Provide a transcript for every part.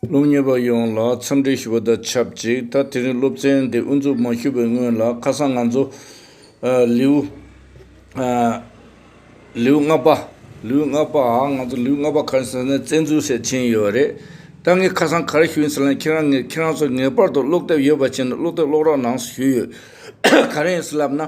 སློབ་གཉེར་པ་ཡོངས་ལ་འཚམས་འདྲི་ཞུ་བ་དང་ཆབས་ཅིག་ད་དེ་རིང་སློབ་ཚན་འདི་དབུ་འཛུགས་མ་ཞུས་པའི་སྔོན་ལ་ཁ་སང་ང་ཚོ། ལེའུ་ལྔ་པ། ལེའུ་ལྔ་པ། ང་ཚོ་ལེའུ་ལྔ་པ་ག་རེ་ཟེར་ན་བཙན་འཛུལ་ཟེར་ཕྱིན་ཡོད་རེད། ད་ངས་ཁ་སང་ག་རེ་ཞུས་ཟེར་ན་ཁྱེད་རང་ངས་ཁྱེད་རང་ཚོ་ངེས་པར་དུ་ཀློག་དེབ་ཡོད་པ་བྱས་ནས་ཀློག་དེབ་ཀློག་རོགས་གནང་ཞུས་ཡོད། ག་རེ་ཡིན་ཟེར་ལབ་ན།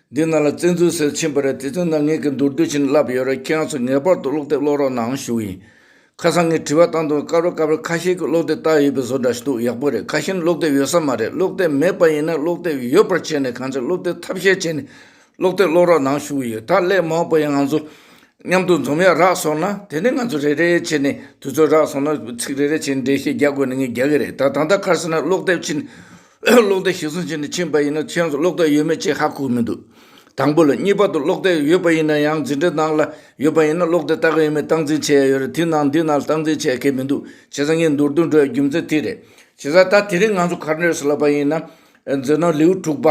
འདི་ན་ལ་བཙན་འཛུལ་ཟེར་ཕྱིན་པ་རེད་དེ་ཚོའི་ནང་ངེད་ཀྱི་མདོར་བསྡུས་བྱིན་བརླབས་ཡོད་རེད་ཁྱེད་རང་ཚོ་ངེས་པར་དུ་ཀློག་དེབ་ཀློག་རོགས་གནང་ཞུ་ཡིན། ཁ་སང་ངས་དྲི་བ་བཏང་དུས་དཀའ་རོགས་དཀའ་བས་ཁ་ཤས་ཀྱིས་ཀློག་དེབ་བཏགས་ཡོད་པའི་བཟོ་འདྲ་ཞིག་འདུག་ཡག་པོ་རེད་ཁ་ཤས་ནི་ཀློག་དེབ་ཡོད་ས་མ་རེད་ཀློག་དེབ་མེད་པ་ཡིན་ན་ཀློག་དེབ་ཡོད་པར་བྱས་ནས་གང་ཆེ་ཀློག་དེབ་ཐབས་ཤེས་བྱས་ནས་ཀློག་དེབ་ཀློག་རོགས་གནང་ཞུ་ཡིན་ད་སླད་མང་པོ་ཡང་ང་ཚོ་མཉམ་དུ་འཛོམས་ཡ་རགས་སོང་ན་དེ་ནས་ང་ཚོ་རེ་རེ་བྱས་ནས་དུས་ཚོད་རགས་སོང་ན་ཚིག་རེ་རེ་བྱས་ནས་འགྲེལ་བཤད་རྒྱག་དགོས་ན་ངས་རྒྱག་གི་རེད་ད་ད་ལྟ་ཁར་སོང་ན་ཀློག་དེབ་བྱིན་གློག་རྡེག་ཞིག་བཟུང་བྱས་ནས་ཕྱིན་པ་ཡིན་ན་མཆན་སུ་གློག་རྡེག་ཡོད་མེད་ཅེས་ཧ་གོ་གི་མི་འདུག་དང་པོ་ལ། གཉིས་པ་དུ་གློག་རྡེག་ཡོད་པ་ཡིན་ན་ཡང་འཛིན་གྲྭའི་ནང་ལ་ཡོད་པ་ཡིན་ན་གློག་རྡེག་ལྟ་གི་ཡོད་མེད་སྟངས་འཛིན་བྱེད་ཡ་ཡོད་རེད་དེ་ནང་འདི་ན་སྟངས་འཛིན་བྱེད་མཁན་མི་འདུག་བྱས་ཙང་ངའི་མདོར་བསྡུས་འགྲོ་བའི་རྒྱུ་མཚན་དེ་རེད། བྱས་ཙང་ད་དེ་རིང་ང་ཚོ་གར་འགྲོ་ཟེར་ལབ་པ་ཡིན་ན། མཛད་ནོར་ལེའུ་དྲུག་པ།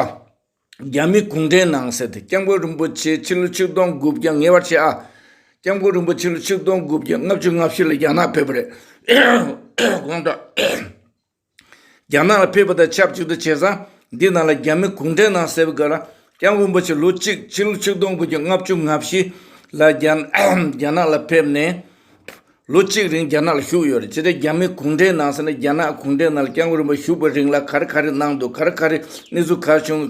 རྒྱ་མི་གུང་ཁྲན་ནང་ཟེར་དེ་སྐྱབས་མགོན་རིན་པོ་ཆེ་ཕྱི་ལོ་ཆིག་སྟོང་དགུ་བརྒྱ་ཉེ་བར་ཆད་ཨ། སྐྱབས་མགོན་རིན་པོ་ཆེ་ལོ་ཆིག་སྟོང་དགུ་བརྒྱ་ལྔ་བཅུ་ལྔ་བཞི་ལ་རྒྱ་ནག་ཕེབས་པ་རེད། དགོངས་དག། རྒྱ་ནག་ལ་ཕེབས་པ་དང་ཆབས་ཅིག་ཏུ་བྱས་ཙང་འདི་རྣམས་ལ་རྒྱ་མི་གུང་ཁྲན་ནང་གསལ་བའི་སྐབས་ལ་ཀྱང་རིན་པོ་ཆེ་ལོ་གཅིག་ཕྱི་ལོ་ཆིག་སྟོང་དགུ་བརྒྱ་ལྔ་བཅུ་ང་བཞི་ལ་རྒྱ་ནག་ལ་ཕེབས་ནས་ལོ་གཅིག་རིང་རྒྱ་ནག་ལ་བཞུགས་ཡོད་རེད་དེ་འདྲའི་རྒྱ་མི་གུང་ཁྲན་ནང་གསལ་ན་རྒྱ་ནག་གུང་ཁྲན་ནང་ལ་ཀྱང་རིན་པོ་བཞུགས་པའི་རིང་ལ་ག་རེ་ག་རེ་གནང་འདུག་ག་རེ་ག་རེ་གནས་ཚུལ་ག་བྱུང་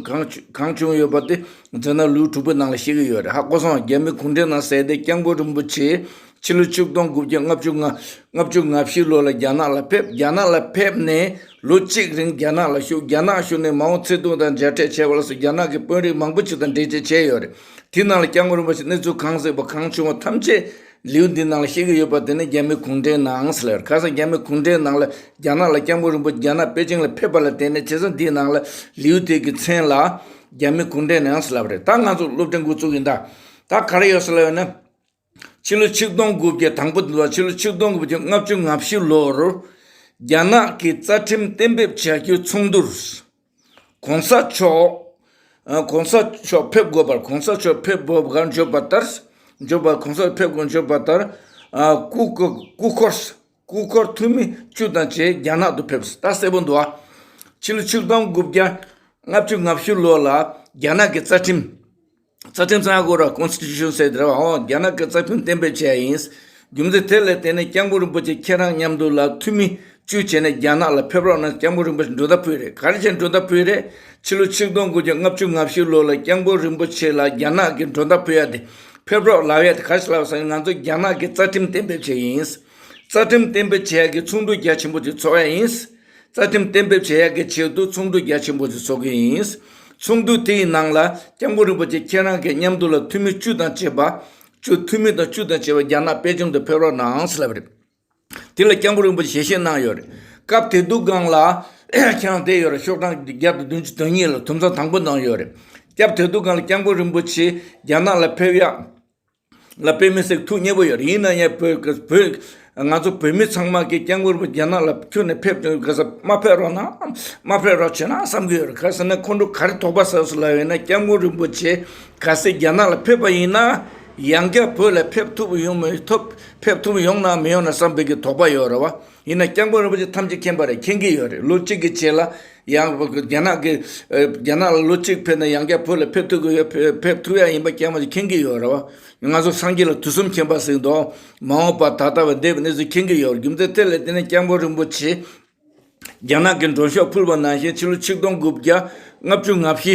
གང་བྱུང་ཡོད་པ་དེ་མཛད་ན་ལུས་དྲུག་པའི་ནང་ལ་ཤེས་ཀྱི་ཡོད་རེད་ཧ་གོ་སོང་རྒྱ་མི་གུང་ཁྲན་ནང་གསལ་དེ་ཀྱང་རིན་པོ་ཆེའི་ཕྱི་ལོ་བཅུ་སྟོང་དགུ་བརྒྱ་ལྔ་བཅུ་ལྔ། ལྔ་བཅུ་ང་བཞི་ལོ་ལ་རྒྱ་ནག་ལ་ཕེབས། རྒྱ་ནག་ལ་ཕེབས་ནས་ལོ་གཅིག་རིང་རྒྱ་ནག་ལ་ཞུགས། རྒྱ་ནག་ཞུགས་ནས་མའོ་ཙེ་ཏུང་དང་མཇལ་འཕྲད་བྱས་པ་ལ་སོགས་རྒྱ་ནག་གི་དཔོན་རིགས་མང་པོ་ཅིག་དང་འབྲེལ་བཅད་བྱས་ཡོད་རེད། དེའི་ནང་ལ་སྐྱག་མགོ་རིན་པོ་ཆེ་གནས་ཚུལ་གང་གཟིགས་པ་གང་བྱུང་བ་ཐམས་ཅད་ལེའུ་འདིའི་ནང་ལ་བཤད་ཀྱི་ཡོད་པ་དེ་ནི་རྒྱ་མི་གུང་ཁྲན་ནང་སླེ་བར་ཁ་སང་རྒྱ་མི་གུང་ཁྲན་ནང་ལ་རྒྱ་ནག་ལ་སྐྱག་མགོ་རིན་པོ་ཆེ་རྒྱ་ནག་པེ་ཅིང་ལ་ཕེབས་པ་ལ་བརྟེན་ནས་བྱས་ཙང་འདིའི་ནང་ལ་ལེའུ་དེ་གི་མཚན་ལ་རྒྱ་མི་གུང་ཁྲན་ནང་སླེ་བ་རེད་ད་ང་ཚོ་སློབ་གྲྭའི་འགོ་བཙུགས་ཡིན་ད་ད་ག་རེ་ཡོད་སླེ་བ་ནི། ཕྱི་ལོ་ཆིག་སྟོང་དགུ་བརྒྱ་དང་པོ་དང་ཕྱི་ལོ་ཆིག་སྟོང་དགུ་བརྒྱ་ལྔ་བཅུ་ང་བཞི་ལོར་རྒྱ་ནག་གི་རྩ་ཁྲིམས་གཏན་འབེབས་བྱ་རྒྱུའི་ཚོགས་འདུར ྋགོང་ས་མཆོགགོང་ས་མཆོག་ཕེབས་དགོས་པར ྋགོང་ས་མཆོག་ཕེབས་དགོས་པར་བརྗོད་པ་ལྟརྋགོང་ས་ཕེབས་དགོས་བརྗོད་པ་ལྟར ྋསྐུ་འཁོར་འཐུས་མི་བཅུ་དང་བཅས་རྒྱ་ནག་ཏུ་ཕེབས། ད་གསལ་པོ་འདུག་ཨ། ཕྱི་ལོ་ཆིག་སྟོང་དགུ་བརྒྱ་ལྔ་བཅུ་ང་བཞི་ལོར་ལ་རྒྱ་ནག་གི་རྩ་ཁྲིམས། རྩ་ཁྲིམས་གསར་འགོད་རོགས Constitution Set རེ་བ་འོག་རྒྱ་ནག་གི་རྩ་ཁྲིམས་གཏན་འབེབས་བྱས་ཡིན། རྒྱུ་མཚན་དེ་ལས་དེ་ནས་སྐྱབས་མགོན་རིན་པོ་ཆེ་ཁྱེད་རང་མཉམ་འདུག་ལ་ཐུགས་མི་གཅུས་བྱས་ནས་རྒྱ་ནག་ལ་ཕེབས་རོགས་གནང་སྐྱབས་མགོན་རིན་པོ་ཆེ་མགྲོན་བདག་ཕུལ་རེད་ག་རེ་བྱས་མགྲོན་བདག་ཕུལ་རེད་ཕྱི་ལོ་ཆིག་སྟོང་དགུ་བརྒྱ་ལྔ་བཅུ་ང་བཞི་ལོ་ལ་སྐྱབས་མགོན་རིན་པོ་ཆེ་ལ་རྒྱ་ནག་གི་མགྲོན་བདག་ཕུལ་ཡ་དེ་ཕེབས་རོགས་ལབ་ཡ་དེ་ག་རེ་བྱས་ལབ་ས་ཡིན་ང་ཚོ་རྒྱ་ནག་གི་རྩ་ཁྲིམས་གཏན་འབེབས་བྱས་ཡིན། རྩ་ཁྲིམས་གཏན་འབེབས་བྱས་ཀྱི་ཚོགས་འདུ་རྒྱ་ཆེན་པོ་ཅིག་ཚོགས་ཡ་ཡིན། རྩ་ཁྲིམས་གཏན་འབེབས་བྱེད་ཡག་གི་ཆེད་དུ་ཚོགས་འདུ་རྒྱ་ཆེན་པོ་ཞིག་ཚོགས་ཀྱི་ཡིན། ཚོགས་འདུ་དེའི་ནང་ལ་སྐྱབས་མགོན་རིན་པོ་ཆེ་ཁྱེད་རང་གི་མཉམ་འདུག་ལ་འཐུས་མི་བཅུ་དང་བཅས་པ། བཅུ་འཐུས་མི་དང་བཅུ་དང་བཅས་པ་རྒྱ་ནག་པེ་ཅིང་དུ་ཕེབས་རོགས་གནང་ཟེར་ལབ་པ་རེད། དེ་ལ་སྐྱབས་མགོན་རིན་པོ་ཆེ་ཞལ་བཞེས་གནང་ཡོད་རེད། སྐབས་དེ་དུས་སྒང་ལ་ཁྱེད་རང་བསྡད་ཡོད་རེད་ཤོག་གྲངས་བརྒྱ་དང་བདུན་ཅུ་དོན་གཉིས་ལ་དུམ་ཚང་དང་པོ་གནང་ཡོད་རེད། སྐབས་དེ་དུས་སྒང་ལ་སྐྱབས་མགོན་རིན་པོ་ཆེ་རྒྱ་ནག་ལ་ཕེབས་ཡག། ལ་དཔེ་མི་སྲིད་ཐུགས་མཉེས་པོ་ཡོད་ཡིན་ན་ཡང་བོད་ང་ཚོ་བོད་མི་ཚང་མ་གིས་སྐྱབས་མགོན་པོ་རྒྱ་ནག་ལ་ཁྱོན་ནས་ཕེབས་དོན་ག་ས་མ་ཕེབས་རོགས་གནང་མ་ཕེབས་རོགས་བྱེད་གནང་བསམ་གྱི་ཡོད་རེད་ག་ས་ནས་ཁོང་ཁྲོ་ག་རེ་དོགས་པ་ཟ་ཟུ་ལ་ཡོད་ན་སྐྱབས་མགོན་རིན་པོ་ཆེ་ག་ས་རྒྱ་ནག་ལ་ཕེབས་པ་ཡིན་ན་ཡང་བསྐྱར་བོད་ལ་ཕེབས་ཐུབ་ཡོང་མི་ཐུབ་ཕེབས་ཐུབ་ཡོང་གནང་མི་ཡོང་གནང་བསམ་འབེབས་ཀྱི་དོགས་པ་ཡོད་རེད་བ། ཡིན་ན་སྐྱབས་མགོན་རིན་པོ་ཆེ་ཐམས་ཅད་མཁྱེན་པ་རེད་མཁྱེན་གྱི་ཡོད་རེད་ལོ་གཅིག་གི་རྗེས་ལ་ཡང་རྒྱ་ནག་གི་རྒྱ་ནག་ལ་ལོ་གཅིག་ཕེབས་ན་ཡང་བསྐྱར་བོད་ལ་ཕེབས་ཐུབ་ཀྱི་ཡོད་ཕེབས་ཐུབ་ཡ་ཡིན་པ་སྐྱབས་མགོན་ཆེ་མཁྱེན་གྱི་ཡོད་རེད་བ། ང་ཚོ་སངས་རྒྱས་ལ་དུས་གསུམ་མཁྱེན་པ་གཟིགས་མདོག་མ་འོངས་པ་ད་ལྟ་བ་འདས་པའི་གནས་ཚུལ་མཁྱེན་གྱི་ཡོད་རེད་རྒྱུ་མཚན་དེ་ལས་དེ་ནས་སྐྱབས་མགོན་རིན་པོ་ཆེ་རྒྱ་ནག་གི་འགྲོ་ཕྱོགས་ཕུལ་བ་ནང་བཞིན་ཕྱི་ལོ་ཆིག་སྟོང་དགུ་བརྒྱ་ལྔ་བཅུ་ང་བཞི་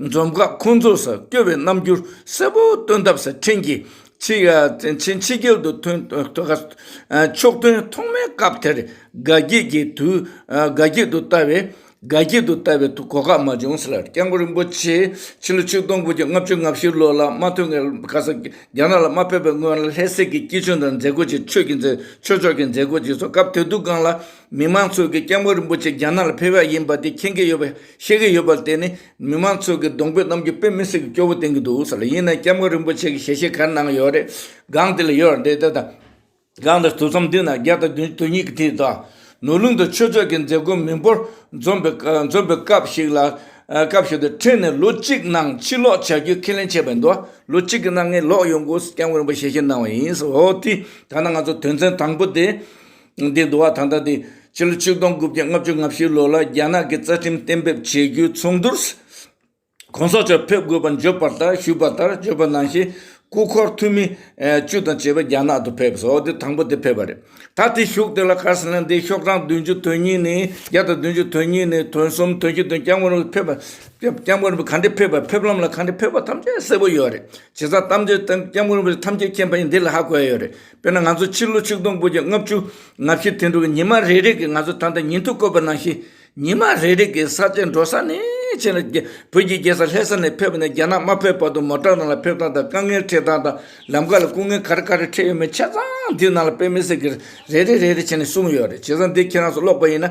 འཛོམས་སྐབས་ཁོང་ཚོས་སྐྱོ་བའི་རྣམ་འགྱུར་གསལ་པོ་སྟོན་སྟབས་སི་ཁྲོན་གྱི་ཆིན་ཕྱི་རྒྱལ་དུ་ཐོན་ཕྱོགས་སྟོན་ཐོག་མའི་སྐབས་དེར་དགའ་སྐྱིད་ཀྱི་དུས་དགའ་སྐྱིད་དུ་བལྟ་བའི་དགའ་སྐྱིད་དུ་བལྟ་བའི་དུས་གོ་ཁ་མ་བྱུང་ཟེར། སྐྱབས་མགོན་རིན་པོ་ཆེས་ཕྱི་ལོ་ཆིག་སྟོང་དགུ་བརྒྱ་ལྔ་བཅུ་ང་བཞི་ལོ་ལ་མ་ཐོན་ཁར་ཁ་སང་རྒྱ་ནག་ལ་མ་ཕེབས་པའི་སྔོན་ལ་ལྷས་སྲས་ཀྱི་སྐྱིད་ཆུང་དང་མཛད་སྒོ་ཆེ་ཆོས་ཀྱི་མཛད་ཆོས་ཕྱོགས་ཀྱི་མཛད་སྒོ་ཅིག་ཚོགས་སྐབས་དེ་དུས་སྒང་ལ་མི་མང་ཚོས་ཀྱིས་སྐྱབས་མགོན་རིན་པོ་ཆེ་རྒྱ་ནག་ལ་ཕེབས་ཡ་ཡིན་པ་དེ་མཁྱེན་གྱི་ཡོད་པས། ཤེས་ཀྱི་ཡོད་པ་དེ་ནི་མི་མང་ཚོས་ཀྱི་གདོང་དཔེ་གནམ་གྱི་དཔེ་མི་སྲིད་ཀྱི་སྐྱོ་བོ་བསྟན་གྱི་འདུག་ས་ལ་ཡིན་ན་སྐྱབས་མགོན་རིན་པོ་ཆེ་གྱི་ཞལ་ཤེས་གར་ནང་ཡོད་རེད་སྒང་དེ་ལ་ཡོད་རེད་དེ་དང་སྒང་དེར་དུས་མཚམས་མདུན་ན་བརྒྱ་དང་བདུན་བདུན་གཉིས་ཀྱི་དུས་དང། ནོར་ལུང་དུ་ཆོས་ཕྱོགས་ཀྱི་མཛད་སྒོ་མི་འབོར་འཛོམས་པའི་འཛོམས་པའི་སྐབས་ཤིག་ལ། སྐབས་ཤིག་ཏུ་ཕྲན་ནས་ལོ་གཅིག་ནང་ཕྱིར་ལོག་བྱ་རྒྱུའི་ཁས་ལེན་བྱས་པའི་འདུག་ལོ་གཅིག་གི་ནང་ངས་ལོག་ཡོང་དགོས་སྐྱབས་མགོན་རིན་པོ་ཆེ་ཞལ་ཤེས་གནང་བ་ཡིན། འོ་དེ་ད་ནང་ང་ཚོ་དོན་ཚན་དང་པོ་དེ། འདི་འདུ་བ་ད་ལྟ་དེ་ཕྱི་ལོ་ཆིག་སྟོང་དགུ་བརྒྱ་ལྔ་བཅུ་ང་བཞི་ལོ་ལ་རྒྱ་ནག་གི་རྩ་ཁྲིམས་གཏན་འབེབས་བྱེད་རྒྱུའི་ཚོགས་འདུར ྋགོང་ས་མཆོག་ཕེབས་དགོས་པ་འཇོག་པར་ལྟར་ཞུས་པ་ལྟར་བརྗོད་པ་ནང་བཞིན་སྐུ་འཁོར་འཐུས་མི་བཅུ་དང་བཅས་པ་རྒྱ་ནག་ཏུ་ཕེབས་སོ་དེ་དང་པོ་དེ་ཕེབས་པ་རེད་ད་དེ་བཞུགས་དེ་ལ་ཁར་སི་ལན་སྡེའི་ཤོག་གྲངས་བདུན་ཅུ་དོན་གཉིས་ནི་བརྒྱ་དང་བདུན་ཅུ་དོན་གཉིས་ནི་དོན་གསུམ་དོན་བཞི་དོན་བརྒྱ་སྔོན་རོལ་ཕེབས་སྐྱབས་མགོན་པོ་ག་འདྲས་ཕེབས་པ་ཕེབས་ལམ་ལ་ག་འདྲས་ཕེབས་པ་ཐམས་ཅད་གསལ་པོ་ཡོད་རེད་བྱས་ཙང་གཏམ་རྗོད་སྟངས་སྐྱབས་མགོན་པོ་ཐམས་ཅད་མཁྱེན་པ་ཡིན་འདི་ལ་ཧ་གོ་ཡ་ཡོད་རེད། དཔེར་ན་ང་ཚོ་ཕྱི་ལོ་ཆིག་སྟོང་དགུ་བརྒྱ་ལྔ་བཅུ་ང་བཞི་དུད་འགྲོ་བའི་ཉི་མ་རེ་རེ་གིས་ང་ཚོ་ད་ལྟ་ཉིན་ཐོ་བཀོད་པ་ནང་བཞིན་ཉི་མ་རེ་རེ་གིས་ས་ཆེན་འགྲོ་ས་ནས་ཆེན་ལ་བོད་ཀྱི་རྒྱལ་ས་ལྷས་ས་ནས་ཕེབས་ནས་རྒྱ་ནག་དམར་ཕེབས་བར་དུ་མོ་བྲག་ནང་ལ་ཕེབས་སྟངས་དང་དཀའ་ངལ་འཕྲད་སྟངས་དང་ལམ་ཁ་ལ་སྐུ་ངལ་ག་རེ་ག་རེ་འཕྲད་ཡོད་མེད་ཆ་ཚང་འདིའི་ནང་ལ་དཔེ་མི་སྲིད་ཀྱི་རེ་རེ་རེ་རེ་བྱས་ནས་གསུངས་ཡོད་རེད་བྱས་ཙང་འདི་ཁྱེད་རང་ཚོ་ཀློག་པ་ཡིན་ན་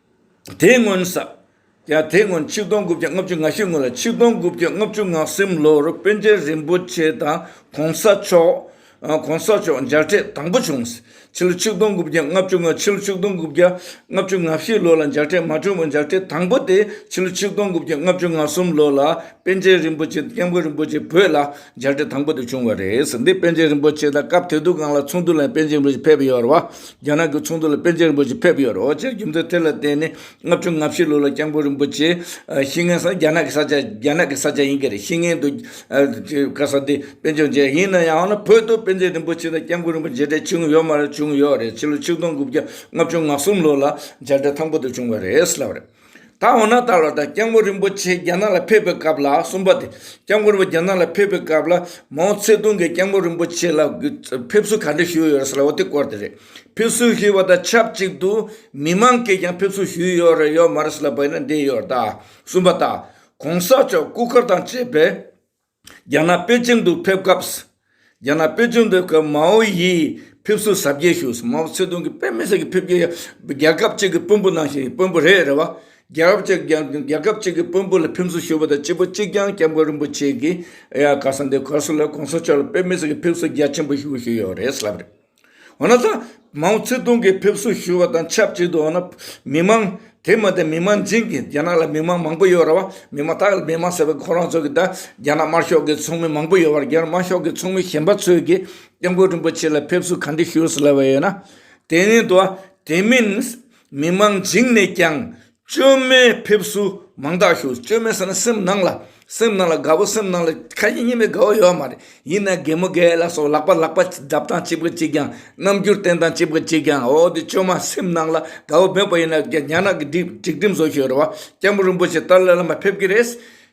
དེའི་སྔོན་ས། ཡང་དེའི་སྔོན་ཆིག་སྟོང་དགུ་བརྒྱ་ལྔ་བཅུ་ང་ཤི་སྔོན་ལ་ཆིག་སྟོང་དགུ་བརྒྱ་ལྔ་བཅུ་ངག་སེམས་ལོར་དཔོན་རྒྱལ་རིན་པོ་ཆེ་དང་གོང་ས་མཆོག་གོང་ས་མཆོག་མཇལ་འཕྲད་དང་པོ་བྱུང། ཕྱི་ལོ་ཆིག་སྟོང་དགུ་བརྒྱ་ལྔ་བཅུ་ང་ཕྱི་ལོ་ཆིག་སྟོང་དགུ་བརྒྱ་ལྔ་བཅུ་ང་བཞི་ལོ་ལ་མཇལ་འཕྲད་མ་བྱུང་བས་མཇལ་འཕྲད་དང་པོ་དེ་ཕྱི་ལོ་ཆིག་སྟོང་དགུ་བརྒྱ་ལྔ་བཅུ་ང་གསུམ་ལོ་ལ་དཔོན་རྒྱལ་རིན་པོ་ཆེ་དང་སྐྱབས་མགོན་རིན་པོ་ཆེ་བོད་ལ་མཇལ་འཕྲད་དང་པོ་དེ་བྱུང་བ་རེད། འདི་དཔོན་རྒྱལ་རིན་པོ་ཆེ་དང་སྐབས་དེ་དུས་སྒང་ལ་ཚོགས་འདུ་ལ་དཔོན་རྒྱལ་རིན་པོ་ཆེ་ཕེབས་ཡོད་རེད་བ། རྒྱ་ནག་གི་ཚོགས་འདུ་ལ་པཎ་ཆེན་རིན་པོ་ཆེ་ཕེབས་ཡོད་རོགས་ཀྱི་རྒྱུ་མཚན་དེ་ལ་བརྟེན་ནས་ལྔ་བཅུ་ང་བཞི་ལོ་ལ་སྐྱབས་མགོན་རིན་པོ་ཆེ་ཤི་ངན་ས་རྒྱ་ནག་གི་ས་ཆ་རྒྱ་ནག་གི་ས་ཆ་ཡིན་གྱི་རེད་ཤི་ངན་དུ་དཀའ་ས་དེ་པན་ཆེན་བྱས་ཡིན་ན་ཡང་ན་བོད་དུ་པན་ཆེན་རིན་པོ་ཆེ་དང་སྐྱབས་མགོན་རིན་པོ་མཇལ་འཕྲད་བྱུང་ཡོད་མ་རེད་བྱུང་ཡོད་རེད་ཕྱི་ལོ་ཆིག་སྟོང་དགུ་བརྒྱ་ལྔ་བཅུ་ང་གསུམ་ལོ་ལ་མཇལ་འཕྲད་མཐའ་འཁོར་དུ་བྱུང་བ་རེད་ལབ་རེད། ད་འོ་ན་ད་ལོ་དང་སྐྱབས་མགོན་རིན་པོ་ཆེ་རྒྱ་ནག་ལ་ཕེབས་པའི་སྐབས་ལ་གསུམ་པ་དེ་སྐྱབས་མགོན་རིན་པོ་རྒྱ་ནག་ལ་ཕེབས་པའི་སྐབས་ལ་མའོ་ཚེ་ཏུང་གིས་སྐྱབས་མགོན་རིན་པོ་ཆེ་ལ་ཕེབས་བསུ་ག་འདྲ་ཞུས་ཡོད་རེད་ཟེར་ལ་འོ་དེ་སྐོར་དེ་རེད། ཕེབས་བསུ་ཞུས་པ་དང་ཆབས་ཅིག་ཏུ་མི་མང་གིས་ཀྱང་ཕེབས་བསུ་ཞུས་ཡོད་རེད་ཡོད་མ་རེད་ཟེར་ལ་བོད་ནས་འདས་ཡོད་རེད་ད། གསུམ་པ་ད། གོང་ས་མཆོག་སྐུ་མཁར་དང་བཅས་པས། རྒྱ་ནག་པེ་ཅིང་དུ་ཕེབས་སྐབས། རྒྱ་ནག་པེ་ཅིང་དུ་ཕེབས་སྐབས་མའོ་ཡིས་ཕེབས་བསུ་གཟབ་རྒྱས་ཞུས་སོང། མའོ་ཙེ་ཏུང་གིས་དཔེ་མི་སྲིད་ཀྱི་ཕེབས་རྒྱ་རྒྱལ་ཁབ་གཅིག་གི་དཔོན་པོ་ནང་བཞིན་དཔོན་པོ་རེད་རེད་བ། རྒྱལ་ཁབ་གཅིག་རྒྱལ་ཁབ་གཅིག་གི་དཔོན་པོ་ལ་ཕེབས་བསུ་ཞུ་བ་དང་སྤྱི་བོ་གཅིག་རྒྱང་སྐྱབས་མགོན་རིན་པོ་ཆེ་གིས་ཡ་ག་ས་འདི་གོ་སོང་ལ་གོང་ས་མཆོག་ལ་དཔེ་མི་སྲིད་ཀྱི་ཕེབས་བསུ་རྒྱ་ཆེན་པོ་ཞུ་གི་ཡོད་རེད་ལབ་རེད། འོ་ན་ད་མའོ་ཙེ་ཏུང་གིས་ཕེབས་བསུ་ཞུས་པ་དང་ཆབས་ཅིག་ཏུ་འོ་ན་མི་མང། དེ་མ་ཏེ་མི་མང་རྫིང་གི་རྒྱ་ནག་ལ་མི་མང་མང་པོ་ཡོད་ར་བ། མི་མ་དག་ལ་མི་མང་ཟེར་བའི་ཁོ་རང་ཚོ་གིས་ད་རྒྱ་ནག་དམར་ཤོག་གི་ཚོགས་མི་མང་པོ་ཡོད་བར་རྒྱ་ནག་དམར་ཤོག་གི་ཚོགས་མི་གཞན་པ་ཚོས་ཀྱིས་སྐྱབས་མགོན་རིན་པོ་ཆེ་ལ་ཕེབས་བསུ་ག་འདི་ཞུས་ཟེར་ལབ་པ་ཡོད་ན། དེ་ནི་དོ། དེ་མིན། མི་མང་རྫིང་ནས་ཀྱང་བཅོས་མའི་ཕེབས་བསུ་མང་དག་ཞུ། བཅོས་མའི་ཟེར་ན་སེམས་ནང་ལ། སེམས་ནང་ལ་དགའ་བོ་སེམས་ནང་ལ་ཁ་ཡིན་སྙན་པའི་དགའ་བོ་ཡོད་མ་རེད། ཡིན་ན་རྒན་མོ་རྒན་ལ་སོགས་ལག་པ་ལག་པ་བརྡབ་སྟངས་ཅི་བགོས་ཅིས་ཀྱང་རྣམ་འགྱུར་བསྟན་སྟངས་ཅི་བགོས་ཅིས་ཀྱང་འོ་དེ་བཅོས་མ་སེམས་ནང་ལ་དགའ་བོ་འབོད་པ་ཡིན་ན་ཉག་ནག་གི་སྒྲིག་སྒྲིག་འགྲིམ་བཟོ་ཞིག་རེད་བ། སྐྱབས་མགོན་རིན་པོ་ཆེ་ཏཱ་ལའི་བླ་མ་ཕེབས་ཀྱི་རེད།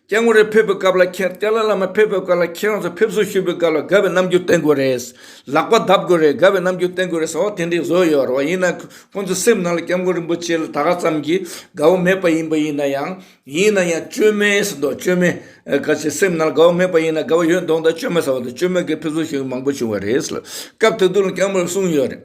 སྐྱེ་དངོས་རེ་ཕེབས་པའི་སྐབས་ལ་ཁྱེད་ཏཱ་ལ་བླ་མ་ཕེབས་པའི་སྐབས་ལ་ཁྱེད་རང་ཚོ་ཕེབས་བསུ་ཞུ་བའི་སྐབས་ལ་དགའ་བའི་རྣམ་འགྱུར་བསྟན་དགོས་རེད། ལག་པ་བརྡབ་དགོས་རེད་དགའ་བའི་རྣམ་འགྱུར་བསྟན་དགོས་རེད་ཟེར་བ་དེ་འདྲའི་བཟོ་ཡོད་རེད་བ་ཡིན་ན་ཁོང་ཚོའི་སེམས་ནང་ལ་སྐྱབས་མགོན་རིན་པོ་ཆེ་ལ་ད་ག་ཙམ་གྱི་དགའ་བོ་མེད་པ་ཡིན་པ་ཡིན་ན་ཡང། ཡིན་ན་ཡང་བཅོས་མའི་ཟེར་མདོག་བཅོས་མའི་སྐད་ཆའི་སེམས་ནང་ལ་དགའ་བོ་མེད་པ་ཡིན་ན་དགའ་བོ་ཡོད་མདོག་མདོག་བཅོས་མ་ཟེར་བ་དང་བཅོས་མའི་སྐད་ཕེབས་བསུ་ཞུ་མཁན་མང་པོ་བྱུང་བ་རེད། སྐབས་དེ་དུས་ལ་སྐྱབས་མགོན་གསུངས་ཡོད་རེད།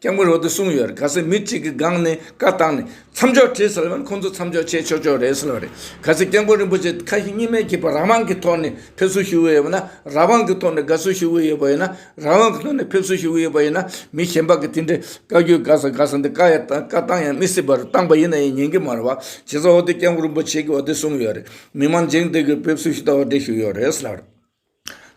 སྐྱབས་མགོན་རོག་ཏུ་གསུངས་ཡོད་རེད་ག་ཚད་མི་གཅིག་གི་སྒང་ནས་བཀའ་བཏང་ནས་མཚམས་འཇོག་བྲིས་ཟེར་བ་ཁོང་ཚོ་མཚམས་འཇོག་བྱས་ཆོག་ཆོག་རེད་ཟེར་བ་རེད་ག་ཚད་སྐྱབས་མགོན་རིན་པོ་ཆེ་ཁ་ཞེ་གཉིས་མེད་ཀྱི་བར་རང་དབང་གི་ཐོག་ནས་ཕེབས་བསུ་ཞུ་གི་ཡོད་པ་ན་རང་དབང་གི་ཐོག་ནས་དགའ་བསུ་ཞུ་གི་ཡོད་པ་ཡིན་ན་རང་དབང་གི་ཐོག་ནས་ཕེབས་བསུ་ཞུ་གི་ཡོད་པ་ཡིན་ན་མི་གཞན་པ་གི་དེ་འདྲའི་བཀའ་རྒྱུད་དགའ་ས་དགའ་ས་འདི་བཀའ་ཡང་བཏང་བཀའ་བཏང་ཡང་མི་སྲིད་པ་རེད་བཏང་པ་ཡིན་ན་ཡང་ཉན་གི་མ་རེད་བ་བྱས་ཙང་འོ་དེ་སྐྱབས་མགོན་རིན་པོ་ཆེ་གིས་འོ་དེ་གསུངས་ཡོད་རེད་མི་མང་འཇིང་དེ་གིས་ཕེབས་བསུ་ཞུ་ཐབས་འོ་དེ་ཞུ་ཡོད་རེད་ཟེར་བ་རེད།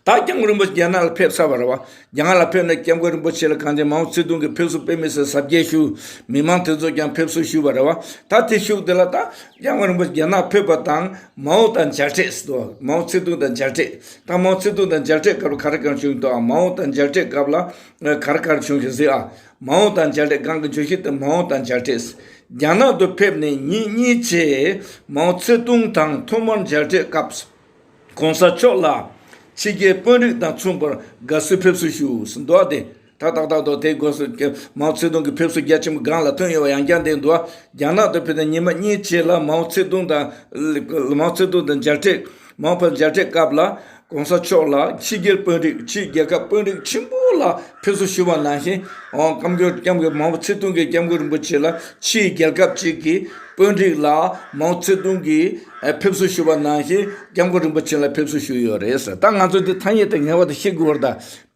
ད་ཀྱང་རིན་པོ་ཆེ་རྒྱ་ནག་ལ་ཕེབས་ཚར་བ་རེད་བ། རྒྱ་ནག་ལ་ཕེབས་ནས་སྐྱབས་མགོན་རིན་པོ་ཆེ་ལ་གངས་ཅན་མའོ་ཙེ་ཏུང་གི་ཕེབས་བསུ་དཔེ་མི་སྲིད་གཟབ་རྒྱས་ཞུ། མི་མང་དེ་ཚོས་ཀྱང་ཕེབས་བསུ་ཞུས་བ་རེད་བ། ད་དེ་ཞུགས་དེ་ལ་ད་ཀྱང་མགོན་རིན་པོ་ཆེ་རྒྱ་ནག་ཕེབས་པ་དང་མའོ་དང་མཇལ་འཕྲད་སྲིད་དོ། མའོ་ཙེ་ཏུང་དང་མཇལ་འཕྲད། ད་མའོ་ཙེ་ཏུང་དང་མཇལ་འཕྲད་སྐབས་ལ་ག་རེ་གང་བྱུང་དུ་ཨ། མའོ་དང་མཇལ་འཕྲད་སྐབས་ལ་ག་རེ་གང་བྱུང་ཞིག་གཟིགས་ཨ། མའོ་དང་མཇལ་འཕྲད་སྒང་གི་བརྗོད་གཞི་དེ་མའོ་དང་མཇལ་འཕྲད། རྒྱ་ནག་ཏུ་ཕེབས་ནས་ཉིན་གཉིས་ཕྱིན། མའོ་ཙེ་ཏུང་དང་ཐོག་མར་མཇལ་འཕྲད་སྐབས། ྋགོང་ས་མཆོག་ལ་ཕྱི་རྒྱལ་དཔོན་རིགས་དང་མཚུངས་པར་དགའ་བསུའི་ཕེབས་བསུ་ཞུས་ཟིན་འདུག་དེ་དག་ཏག་ཏག་ཏུ་དེ་དགོས་སུ ྋམའོ་ཙེ་ཏུང་གི་ཕེབས་བསུ་རྒྱ་ཆེན་པོ་སྒང་ལ་ཐོན་ཡོད་པ་ཡང་བསྐྱར་འདེད་འདུག་རྒྱ་ནག་ཏུ་ཕེབས་ཏེ་ཉིན་མ་གཉིས་ཕྱིན་ལ ྋམའོ་ཙེ་ཏུང་དང ྋམའོ་ཙེ་ཏུང་དང་མཇལ་འཕྲད ྋམའོ་ཕེབས་མཇལ་འཕྲད་སྐབས་ལ ྋགོང་ས་མཆོག་ལ་ཕྱི་རྒྱལ་དཔོན་རིགས་ཕྱིའི་རྒྱལ་ཁབ་དཔོན་རིགས་ཆེན་པོ་ལ་ཕེབས་བསུ་ཞུས་པ་ནང་བཞིན ྋསྐྱབས་མགོན ྋམའོ་ཙེ་ཏུང་གིས ྋསྐྱབས་མགོན་རིན་པོ་ཆེ་ལ་ཕྱིའི་རྒྱལ་ཁབ་ཅིག་གི་དཔོན་རིགས་ལ་མའོ་ཙེ་ཏུང་གིས་ཕེབས་བསུ་ཞུས་པ་ནང་བཞིན་སྐྱབས་མགོན་རིན་པོ་ཆེ་ལ་ཕེབས་བསུ་ཞུས་ཡོད་རེད། ད་ང་ཚོ་འདི་ཐ་སྙད་དེ་ངེས་པ་དང་ཤེས་དགོས་པར་ད་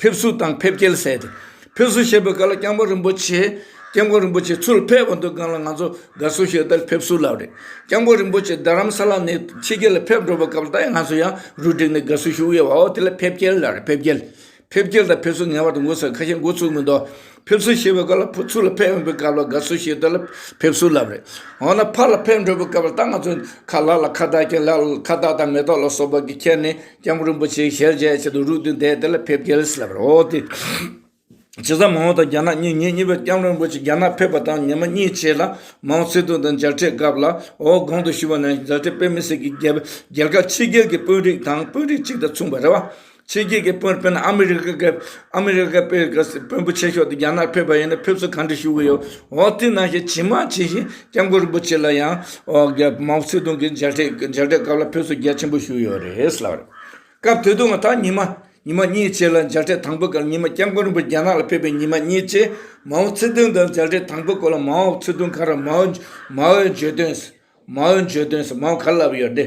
ཕེབས་བསུ་དང་ཕེབས་སྐྱེལ་ཟེར་ཏེ། ཕེབས་བསུ་བྱེད་པའི་སྐབས་ལ་སྐྱབས་མགོན་རིན་པོ་ཆེ། སྐྱབས་མགོན་རིན་པོ་ཆེ་ཚུར་ཕེབས་པ་འདུག་སྒང་ལ་ང་ཚོ་དགའ་བསུ་ཞུས་ལྟར་ཕེབས་བསུ་ལབ་རེད། སྐྱབས་མགོན་རིན་པོ་ཆེ་རྡ་རམ་ས་ལ་ནས་ཕྱི་རྒྱལ་ལ་ཕེབས་འགྲོ་བའི་སྐབས་ལ་ད་ཡང་ང་ཚོ་ཡང་རུ་སྒྲིག་ནས་དགའ་བསུ་ཞུ་ཡོད་བ་འོ་དེ་ལ་ཕེབས་སྐྱེལ་ལབ་རེད་ཕེབས་སྐྱེལ། ཕེབས་སྐྱེལ་དང་ཕེབས་བསུ་ངེས་བར་དུ་དགོས་ཟེར་ཁ་ཞེ་འགོ་ཚུགས་མི་འདུག་ཕེབས་བསུ་བྱེད་པའི་སྐབས་ལ་ཕུ་ཚུགས་ལ་ཕེབས་ཡོང་པའི་སྐབས་ལ་དགའ་བསུ་བྱེད་དོན་ལ་ཕེབས་བསུ་ལབ་རེད་འོ་ན་ཕར་ལ་ཕེབས་འགྲོ་པའི་སྐབས་ལ་ད་ང་ཚོས་ཁ་ལག་ལ་ཁ་བཏགས་ཀྱིན་ལག་ལ་ཁ་བཏགས་དང་མེ་ཏོག་ལ་སོགས་པ་གིས་ཁྱེར་ནས་སྐྱབས་མགོན་རིན་པོ་ཆེའི་ཞལ་མཇལ་བྱེད་དུ་རུག་དུས་འདས་དེ་ལ་ཕེབས་སྐྱེལ་ལབ་རེད་འོ་དེ་ཇི་ཙམ་མང་བོ་དང་རྒྱ་ནག་གཉིས་ངེད་གཉིས་པོས་སྐྱབས་མགོན་རིན་པོ་ཆེ་རྒྱ་ནག་ཕེབས་པ་དང་ཉི་མ་གཉིས་ཕྱེད་ལ་མའོ་ཙེ་ཏུང་དང་མཇལ་འཕྲད་སྐབས་ལ་ཨོ་གོང་དུ་ཞུས་པ་ནང་བཞིན་མཛའ་འབྲེལ་དཔེ་མི་སྲིད་ཀྱི་རྒྱལ་ཁབ་ཕྱི་རྒྱལ་གྱི་དཔོན་རིགས་དང་དཔོན་རིགས་གཅིག་དང་མཚུངས་པ་རེད་བ། ཕྱི་རྒྱལ་གྱི་དཔོན་དཔོན་ཨ་མི་རི་ཀ་གི་ཨ་མི་རི་ཀ་པའི་དཔོན་པོ་ཆེ་ཤོས་དེ་རྒྱ་ནག་ཕེབས་པ་ཡིན་ན་ཕེབས་བསུ་གང་འདྲ་ཞུ་གི་ཡོད་འོ་དེ་ནང་བཞིན་ཇི་མ་ཇི་བཞིན་སྐྱབས་མགོན་རིན་པོ་ཆེ་ལ་ཡང་མའོ་ཙེ་ཏུང་གི་མཇལ་འཕྲད་མཇལ་འཕྲད་སྐབས་ལ་ཕེབས་བསུ་རྒྱ་ཆེན་པོ་ཞུ་ཡོད་རེད་ལབ་རེད་སྐབས་དེ་དུང་ད་ཉི་མ་ཉི་མ་གཉིས་བཅས་ལ་མཇལ་འཕྲད་དང་པོ་སྐབས་ཉི་མ་སྐྱབས་མགོན་རིན་པོ་རྒྱ་ནག་ལ་ཕེབས་པའི་ཉི་མ་གཉིས་བཅས་མའོ་ཙེ་ཏུང་དང་མཇལ་འཕྲད་དང་པོ་སྐོར་ལ་མའོ་ཙེ་ཏུང་ག་ར་མའོ་མའོའི་བརྗོད་དོན་མའོའི་བརྗོད་དོན་མའོ་ག་ལ་ལབ་ཡོད་དེ།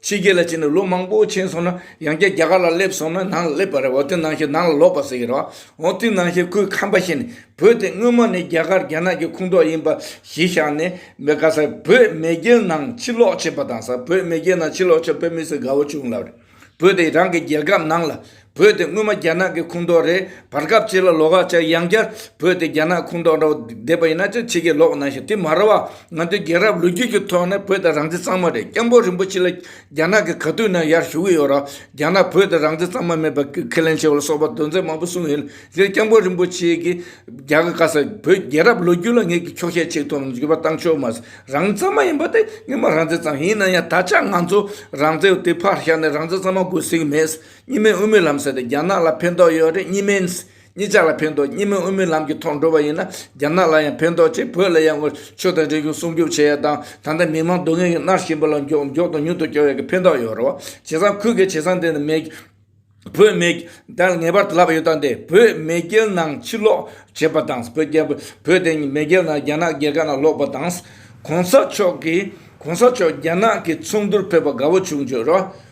ཕྱི་རྒྱལ་ལ་ཕྱིན་ནས་ལོ་མང་པོ་ཕྱིན་སོང་ན་ཡང་བསྐྱར་རྒྱ་གར་ལ་སླེབས་སོང་ན་ནང་ལ་སླེབས་པ་རེད་འོ་དེ་ནང་བཞིན་ནང་ལ་ལོག་པ་ཟེར་གྱི་རོགས་འོ་དེ་ནང་བཞིན་ཁོའི་ཁམས་པ་ཤེས་ནས་བོད་དེ་སྔོན་མ་ནས་རྒྱ་གར་རྒྱ་ནག་གི་ཁུངས་གཏོགས་ཡིན་པ་གཞི་བཞག་ནས་མེ་ག་སར་བོད་མེས་རྒྱལ་ནང་ཕྱིར་ལོག་བྱས་པ་དང་སར་བོད་མེས་རྒྱལ་ནང་ཕྱིར་ལོག་བྱས་པ་བོད་མི་སེར་དགའ་བོ་བྱུང་ལབ་རེད་བོད་དེ་རང་གི་རྒྱལ་ཁབ་ནང་ལ་བོད་དེ་སྔོན་མ་རྒྱ་ནག་གི་ཁུངས་གཏོགས་རེད་བར་སྐབས་ཅིག་ལ་ལོ་ཁ་ཆག་ཡང་བསྐྱར་བོད་དེ་རྒྱ་ནག་ཁུངས་གཏོགས་འདྲ་བོ་བསྡད་པ་ཡིན་ན་ཅི་ཕྱི་གི་ལོག་གནང་ཞིག་དེ་མ་རེད་བ་ང་ཚོའི་རྒྱལ་རབས་ལོ་རྒྱུས་ཀྱི་ཐོག་ནས་བོད་དེ་རང་བཙན་གཙང་མ་རེད་སྐྱབས་མགོན་རིན་པོ་ཆེ་ལ་རྒྱ་ནག་གི་ག་དུས་ན་ཡར་ཞུ་གི་ཡོད་ར་རྒྱ་ནག་བོད་དེ་རང་བཙན་གཙང་མ་མེད་པ་ཁས་ལེན་བྱས་བ་ལ་སོགས་པ་དོན་ཚན་མང་པོ་གསུངས་ཡོད་ཟེར་སྐྱབས་མགོན་རིན་པོ་ཆེ་གིས་རྒྱ་གར་ཁ་ས་བོད་རྒྱལ་རབས་ལོ་རྒྱུས་ལ་ངེད་ཀྱི་འཁྱོག་བཤད་ཆེ་ཐུང་འགྱུར་བ་བཏང་ཆོག་མ་ཟད་རང་བཙན་གཙང་མ་ཡིན་པ་དེ་ངེད་མ་རང་བཙན་གཙང་མ་ཡིན་ན་ཡང་ད་ཆ་ང་ཚོ་རང་བཙན་དེ་ཕར་བཞག་ནས་རང་བཙན་གཙང་མ་དགོས་ཟེར་གི་མེད། གཉིས་སྨན་དབུ་མའི་ལམ་ཟེར་ཏེ་རྒྱ་ནག་ལ་ཕན་ཐོགས་ཡོད་རེད་གཉིས་སྨན་གཉིས་ཆ་ལ་ཕན་ཐོགས་གཉིས་སྨན་དབུ་མའི་ལམ་གྱི་ཐོག་འགྲོ་བ་ཡིན་ན་རྒྱ་ནག་ལ་ཡང་ཕན་ཐོགས་ཆེད་བོད་ལ་ཡང་ངོ་ཆོས་དང་རིག་གཞུང་སྲུང་སྐྱོབ་བྱེད་ཡ་དང་ད་ལྟ་མི་མང་སྡུག་བསྔལ་གྱི་མནར་བཞིན་པ་ལ་མགྱོགས་མགྱོགས་དང་མྱུར་དུ་སྐྱོབ་ཡ་གི་ཕན་ཐོགས་ཡོད་རེད་བ་བྱས་ཙང་ཁུལ་གྱི་བྱས་ཙང་དེ་ནི་མེད་བོད་མེ་རྒྱལ་ངེས་པར་དུ་ལབ་ཡོད་ད་དེ་བོད་མེ་རྒྱལ་ནང་ཕྱིར་ལོག་བྱེད་པ་དང་བོད་རྒྱལ་བོད་དེ་མེ་རྒྱལ་ནང་རྒྱ་ནག་རྒྱལ་ཁབ་ནང་ལོག་པ་དང་གོང་ས་མཆོག་གིས་གོང་ས་མཆོག་རྒྱ་ནག་གི་ཚོགས་འདུར་ཕེབས་པ་དགའ་བོ་བྱུང་བརྗོད་རོགས།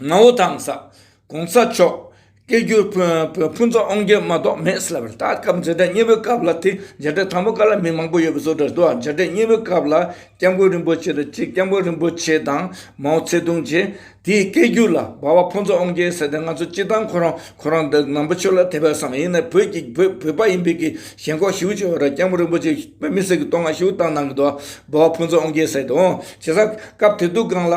ངའོ་ཐང་ས་གོང་ས་མཆོག་སྐད་སྒྱུར་བོད་ཕུན་ཚོགས་དབང་རྒྱལ་མ་གཏོགས་མེད་ཟེར་བར་ད་སྐབས་མཇལ་འཕྲད་གཉིས་པོའི་སྐབས་ལ་དེ་མཇལ་འཕྲད་དང་པོ་ག་ལ་མི་མང་པོ་ཡོད་པའི་བཟོ་འདྲ་འདུག་མཇལ་འཕྲད་གཉིས་པོའི་སྐབས་ལ་སྐྱབས་མགོན་རིན་པོ་ཆེ་དང་གཅིག་སྐྱབས་མགོན་རིན་པོ་ཆེ་དང་མའོ་ཚེ་ཏུང་བཅས་དེའི་སྐད་སྒྱུར་ལ་འབའ་བ་ཕུན་ཚོགས་དབང་རྒྱལ་ཟེར་ཏེ་ང་ཚོ་སྤྱི་བཏང་ཁོ་རང་ཁོ་རང་འདི་ནང་པ་ཆོས་ལ་དད་པའི་བསམ་ཡིན་ནའི་བོད་ཀྱི་བོད་པ་ཡིན་པའི་གི་ཞེན་ཁོག་ཞིའུ་ཆེ་བ་ར་སྐྱབས་མགོན་རིན་པོ་ཆེ་དཔེ་མི་སྲིད་གི་བསྟོད་བསྔགས་ཞིའུ་བཏང་གནང་གི་འདུག་འབའ་བ་ཕུན་ཚོགས་དབང་རྒྱལ་ཟེར་ཏེ་འོང་བྱེད་ས་སྐབས་དེ་དུས་སྒང་ལ།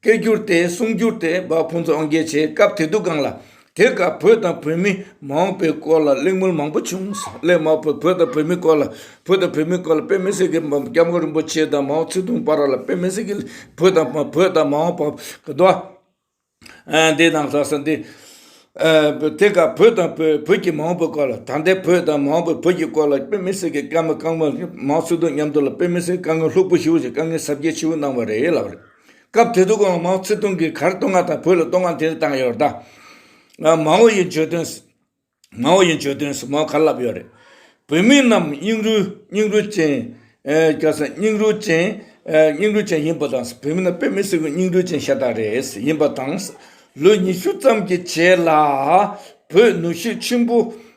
སྐད་སྒྱུར་ཏེ་གསུང་སྒྱུར་དེ་འབའ་ཕུན་ཚོགས་དབང་རྒྱལ་བྱེད་སྐབས་དེ་དུས་སྒང་ལ། དེ་སྐབས་བོད་དང་བོད་མི་མ་འོངས་པའི་སྐོར་ལ་གླེང་མོལ་མང་པོ་བྱུང། སླད་མར་བོད་བོད་དང་བོད་མིའི་སྐོར་ལ་བོད་དང་བོད་མིའི་སྐོར་ལ་དཔེ་མི་སྲིད་མཁན་འབའ་སྐྱབས་མགོན་རིན་པོ་ཆེ་དང་མའོ་ཙེ་ཏུང་བར་ལ་དཔེ་མི་སྲིད་མཁན་བོད་དང་བོད་དང་མ་འོངས་པ་གི་འགྲོ་བ། འདི་དང་ལྷག་བསམ་འདི། དེ་སྐབས་བོད་དང་བོད་བོད་ཀྱི་མ་འོངས་པའི་སྐོར་ལ་ད་ལྟའི་བོད་དང་མ་འོངས་པའི་བོད་ཀྱི་སྐོར་ལ་དཔེ་མི་སྲིད་མཁན་སྐྱབས་མགོན་མའོ་ཙེ་ཏུང་མཉམ་དུ་ལ་དཔེ་མི་སྲིད་མཁན་དཀའ་ངལ་ལྷུག་པོ་ཞུ་བ་ཞིག་དཀའ་ངལ་གཟབ་རྒྱས་ཆེ་བོ་གནང་བ་རེད་ལབ་རེད། སྐབས་དེ་དུ་ཀོང་མའོ་ཙེ་ཏུང་གིས་གར་བཏོ་ང་དང་བོད་ལ་བཏོ་ང་དེ་རེད་བཏང་ཡོད་རེད་ད། མའོ་ཡི་བརྗོད་དོན། མའོ་ཡི་བརྗོད་དོན་སུ་མའོ་གར་ལབ་ཡོད་རེད། བོད་མི་རྣམས་སྙིང་རུས་སྙིང་རུས་ཅན། སྐྱ་སེར་སྙིང་རུས་ཅན། སྙིང་རུས་ཅན་ཡིན་པ་དང་བོད་མི་རྣམས་པད་མི་སེར་པོའི་སྙིང་རུས་ཅན་ཤ་སྟག་རེད་ཡིན་པ་དང། ལོ་ཉི་ཤུ་ཙམ་གྱི་རྗེས་ལ་བོད་ནུ་ཞོ་ཆེན་པོ།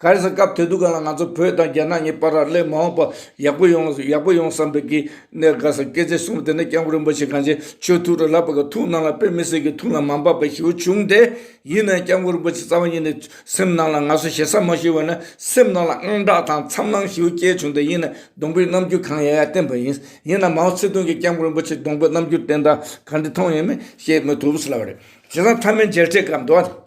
ག་རེ་ཟ་སྐབས་དེ་དུས་ག་ལ་ང་ཚོ་བོད་དང་རྒྱ་ནག་གཉིས་པར་རག་ལས་མ་འོངས་པ་ཡག་པོ་ཡོང་ཡག་པོ་ཡོང་བསམ་པའི་གི་ནས་དགའ་ས་སྐད་ཆ་གསུངས་པ་དེ་ནས་སྐྱབས་མགོན་རིན་པོ་ཆེ་གངས་ཅན་ཆོས་ཐུགས་ར་ལག་པ་གི་ཐུགས་ནང་ལ་དཔེ་མི་སྲིད་གི་ཐུགས་ལ་མ་འབབ་པ་ཞིའུ་བྱུང་སྟེ་ཡིན་ནའི་སྐྱབས་མགོན་རིན་པོ་ཆེ་རྩ་བ་ཉིད་ནས་སེམས་ནང་ལ་ང་ཚོ་ཞེ་ས་མ་ཞུ་བ་ན་སེམས་ནང་ལ་དངངས་སྐྲག་དང་འཚམ་སྣང་ཞིའུ་སྐྱེས་བྱུང་སྟེ་ཡིན་ནའི་སྡོང་པོའི་རྣམ་འགྱུར་གང་ཡ་ཡ་བསྟན་པ་ཡིན་ཡིན་ནའི་མའོ་ཚེ་ཏུང་གིས་སྐྱབས་མགོན་རིན་པོ་ཆེ་སྡོང་པོའི་རྣམ་འགྱུར་བསྟན་དང་ག་འདྲི་མཐོང་ཡོད་མེད་ཤེས་མི་ཐུབ་ས་ལ་བ་རེད་བྱས་ཙང་མཐའ་མའི་མཇལ་འཕྲད་སྐབས་འདུག་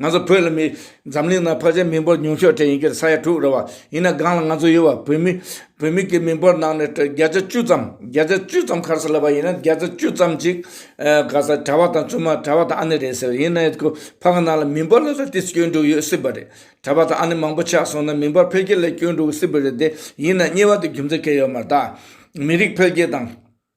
ང་ཚོ་བོད་ལ་མི། འཛམ་གླིང་ནང་བག་ཆགས་མི་འབོར་ཉུང་ཤོས་གྲས་ཡིན་གྱི་ས་ཡ་དྲུག་རེད་བ། ཡིན་ན་སྒང་ལ་ང་ཚོ་ཡོད་བ་བོད་མི། བོད་མི་གི་མི་འབོར་ནང་ནས་བརྒྱ་ཆ་བཅུ་ཙམ། བརྒྱ་ཆ་བཅུ་ཙམ་ཁར་ས་ལ་བ་ཡིན་ན་བརྒྱ་ཆ་བཅུ་ཙམ་གཅིག། ག་ས་གྲ་བ་དང་བཙུན་མ་གྲ་བ་དང་ཨ་ནེ་རེད་ཟེར་ཡིན་ན་ཡོད་ཁུ་ཕག་གི་ནང་ལ་མི་འབོར་ལ་ས་དེ་སྐྱོན་འགྲོ་ཡོད་སྲིད་པ་རེད། གྲ་བ་དང་ཨ་ནེ་མང་པོ་ཆགས་སོང་ན་མི་འབོར་འཕེལ་རྒྱས་ལ་སྐྱོན་འགྲོ་གི་སྲིད་པ་རེད་དེ་ཡིན་ན་གཉིས་བ་དེ་རྒྱུ་མཚན་གས་ཡོད་མ་རྟགས། མི་རིགས་འཕེལ་རྒྱས་དང།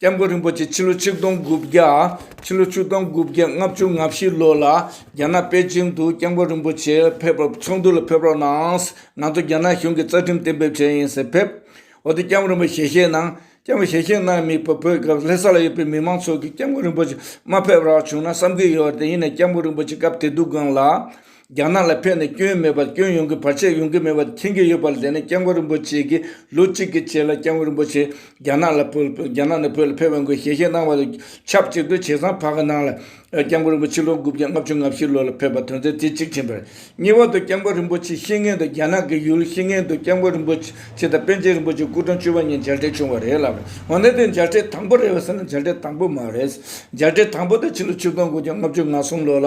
བསྟན་འགོ་རིན་པོ་ཆེ་ཕྱི་ལོ་ཆིག་སྟོང་དགུ་བརྒྱ། ཕྱི་ལོ་ཆིག་སྟོང་དགུ་བརྒྱ་ལྔ་བཅུ་ང་བཞི་ལོ་ལ་རྒྱ་ནག་པེ་ཅིང་དུ་བསྟན་འགོ་རིན་པོ་ཆེ་ཕེབས་པར་ཚོགས་འདུ་ལ་ཕེབས་རོགས་གནང། ང་ཚོ་རྒྱ་ནག་གཞུང་གི་རྩ་ཁྲིམས་གཏན་འབེབས་བྱས་ཡིན་ཟེར་ཕེབས། འོ་དེ་སྐྱབས་རིན་པོ་ཞལ་བཞེས་གནང། སྐྱབས་རིན་པོ་ཞལ་བཞེས་གནང་ཡང་མི་ཕོད་བོད་སྐབས་ལྷེ་ས་ལ་ཡོད་པའི་མི་མང་ཚོགས་ཀྱིས་སྐྱབས་འགོ་རིན་པོ་ཆེ་མ་ཕེབས་རག་བྱུང་ན་བསམ་གྱི་ཡོད་དེ་ཡིན་ནས་སྐྱབས་འགོ་རིན་པོ་ཆེ་སྐབས་དེ་སྡུག་སྒང་ལ་རྒྱ་ནག་ལ་ཕན་ནས་སྐྱོན་མེད་པར་སྐྱོན་ཡོང་གི་བར་ཆད་ཡོང་གི་མེད་པ་མཁྱེན་གྱི་ཡོད་པ་ལས་ནས་སྐྱབས་མགོན་རིན་པོ་ཆེ་གིས་ལོ་གཅིག་གི་རྗེས་ལ་སྐྱབས་མགོན་རིན་པོ་ཆེ་རྒྱ་ནག་ལ་བོད་རྒྱ་ནག་ནས་བོད་ལ་ཕེབས་དགོས་ཞལ་བཞེས་གནང་བ་དང་ཆབས་གཅིག་ཏུ་བྱས་ཙང་བར་གི་ནང་ལ་སྐྱབས་མགོན་རིན་པོ་ཆེ་ལོ་དགུ་བརྒྱ་ལྔ་བཅུ་ང་བཞི་ལོ་ལ་ཕེབས་པ་དོན་ཚན་དེ་གཅིག་བྱིན་པར་གཉིས་བར་དུ་སྐྱབས་མགོན་རིན་པོ་ཆེ་ཤི་ངན་དུ་རྒྱ་ནག་གི་ཡུལ་ཤི་ངན་དུ་སྐྱབས་མགོན་རིན་པོ་ཆེ་དང་པཎ་ཆེན་རིན་པོ་ཆེ་སྐུ་གྲངས་བཅུ་བ་གཉིས་མཇལ་འཕྲད་བྱུང་བ་རེད་ལབ་རེད་འོན་ཏེ་དེ་མཇལ་འཕྲད་དང་པོ་རེད་བསམ་ན་མཇལ་འཕྲད་དང་པོ་མ་རེད་མཇལ་འཕྲད་དང་པོ་དེ་ཕྱི་ལོ་ཆིག་སྟོང་དགུ་བརྒྱ་ལྔ་བཅུ་ང་གསུམ་ལོ་ལ་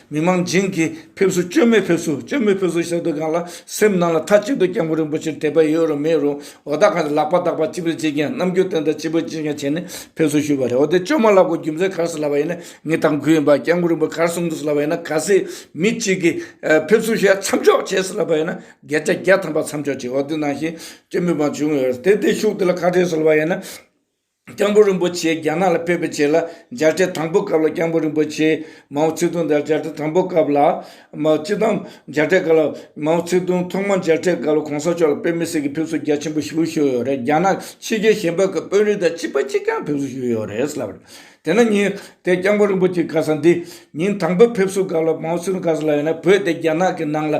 མི་དམངས་བྱིངས་ཀྱིས་ཕེབས་བསུ་བཅོས་མའི་ཕེབས་བསུ་བཅོས་མའི་ཕེབས་བསུ་ཞག་སྡོད་ཁང་ལ་སེམས་ནང་ལ་མཐའ་གཅིག་ཏུ་སྐྱབས་མགོན་རིན་པོ་ཆེར་དད་པ་ཡོད་རུང་མེད་རུང་འོ་ད་གང་ཞིག་ལག་པ་འདག་པ་ཅི་འི་བྱེད་ཀྱིན་ནམ་རྒྱུན་སྟོན་ཟླ་སྤྱི་བོས་ཅི་འགའ་བྱས་ནས་ཕེབས་བསུ་ཞུས་པ་རེད་འོ་དེ་བཅོས་མ་ལ་གོ་རྒྱུ་མཚན་གར་སོང་ལབ་པ་ཡིན་ན་ངས་དང་གུས་ཡིན་པ་སྐྱབས་མགོན་རིན་པོ་གར་སོང་གི་སོང་ལབ་པ་ཡིན་ན་ག་སྲིད་མི་གཅིག་གིས་ཕེབས་བསུ་ཞེས་མཚམས་འཇོག་བྱས་སོང་ལབ་པ་ཡིན་ན་བརྒྱད་ཆ་བརྒྱ་ཐམ་པ་མཚམས་འཇོག་བྱས་འོ་དེ་ནང་བཞིན་བཅོས་མའི་བང་ཆུང་ཡོད་རེད་དེ་དེ་ཤུགས་དེ་ལ་ཁ་བྲལ་སོང་ལབ་པ་ཡིན་ན། སྐྱབས་འགྲོ་རིན་པོ་ཆེ་རྒྱ་ནག་ལ་ཕེབས་པའི་ཆེད་ལ་མཇལ་འཕྲད་དང་པོའི་སྐབས་ལ་སྐྱབས་འགྲོ་རིན་པོ་ཆེ་མའོ་ཙེ་ཏུང་དང་མཇལ་འཕྲད་དང་པོའི་སྐབས་ལ། མའོ་ཙེ་ཏུང་མཇལ་འཕྲད་སྐབས་ལ་མའོ་ཙེ་ཏུང་ཐོག་མར་མཇལ་འཕྲད་སྐབས་ལ་གོང་ས་མཆོག་ལ་དཔེ་མི་སྲིད་ཀྱི་ཕེབས་བསུ་རྒྱ་ཆེན་པོ་ཞུ་ཞུས་ཡོད་རེད་རྒྱ་ནག་ཕྱི་རྒྱལ་གཞན་ཕན་གྱི་དཔོན་རིགས་དང་གཅིག་པ་གཅིག་རྐྱང་ཕེབས་བསུ་ཞུས་ཡོད་རེད་ལབ་རེད། དེ་ནས་ཉིན་དེ་སྐྱབས་འགྲོ་རིན་པོ་ཆེ་ག་ས་འདི་ཉིན་དང་པོའི་ཕེབས་བསུའི་སྐབས་ལ་མའོ་ཙེ་ཏུང་ག་ས་ལ་ཡོད་ན་བོད་དེ་རྒྱ་ནག་གི་ནང་ལ་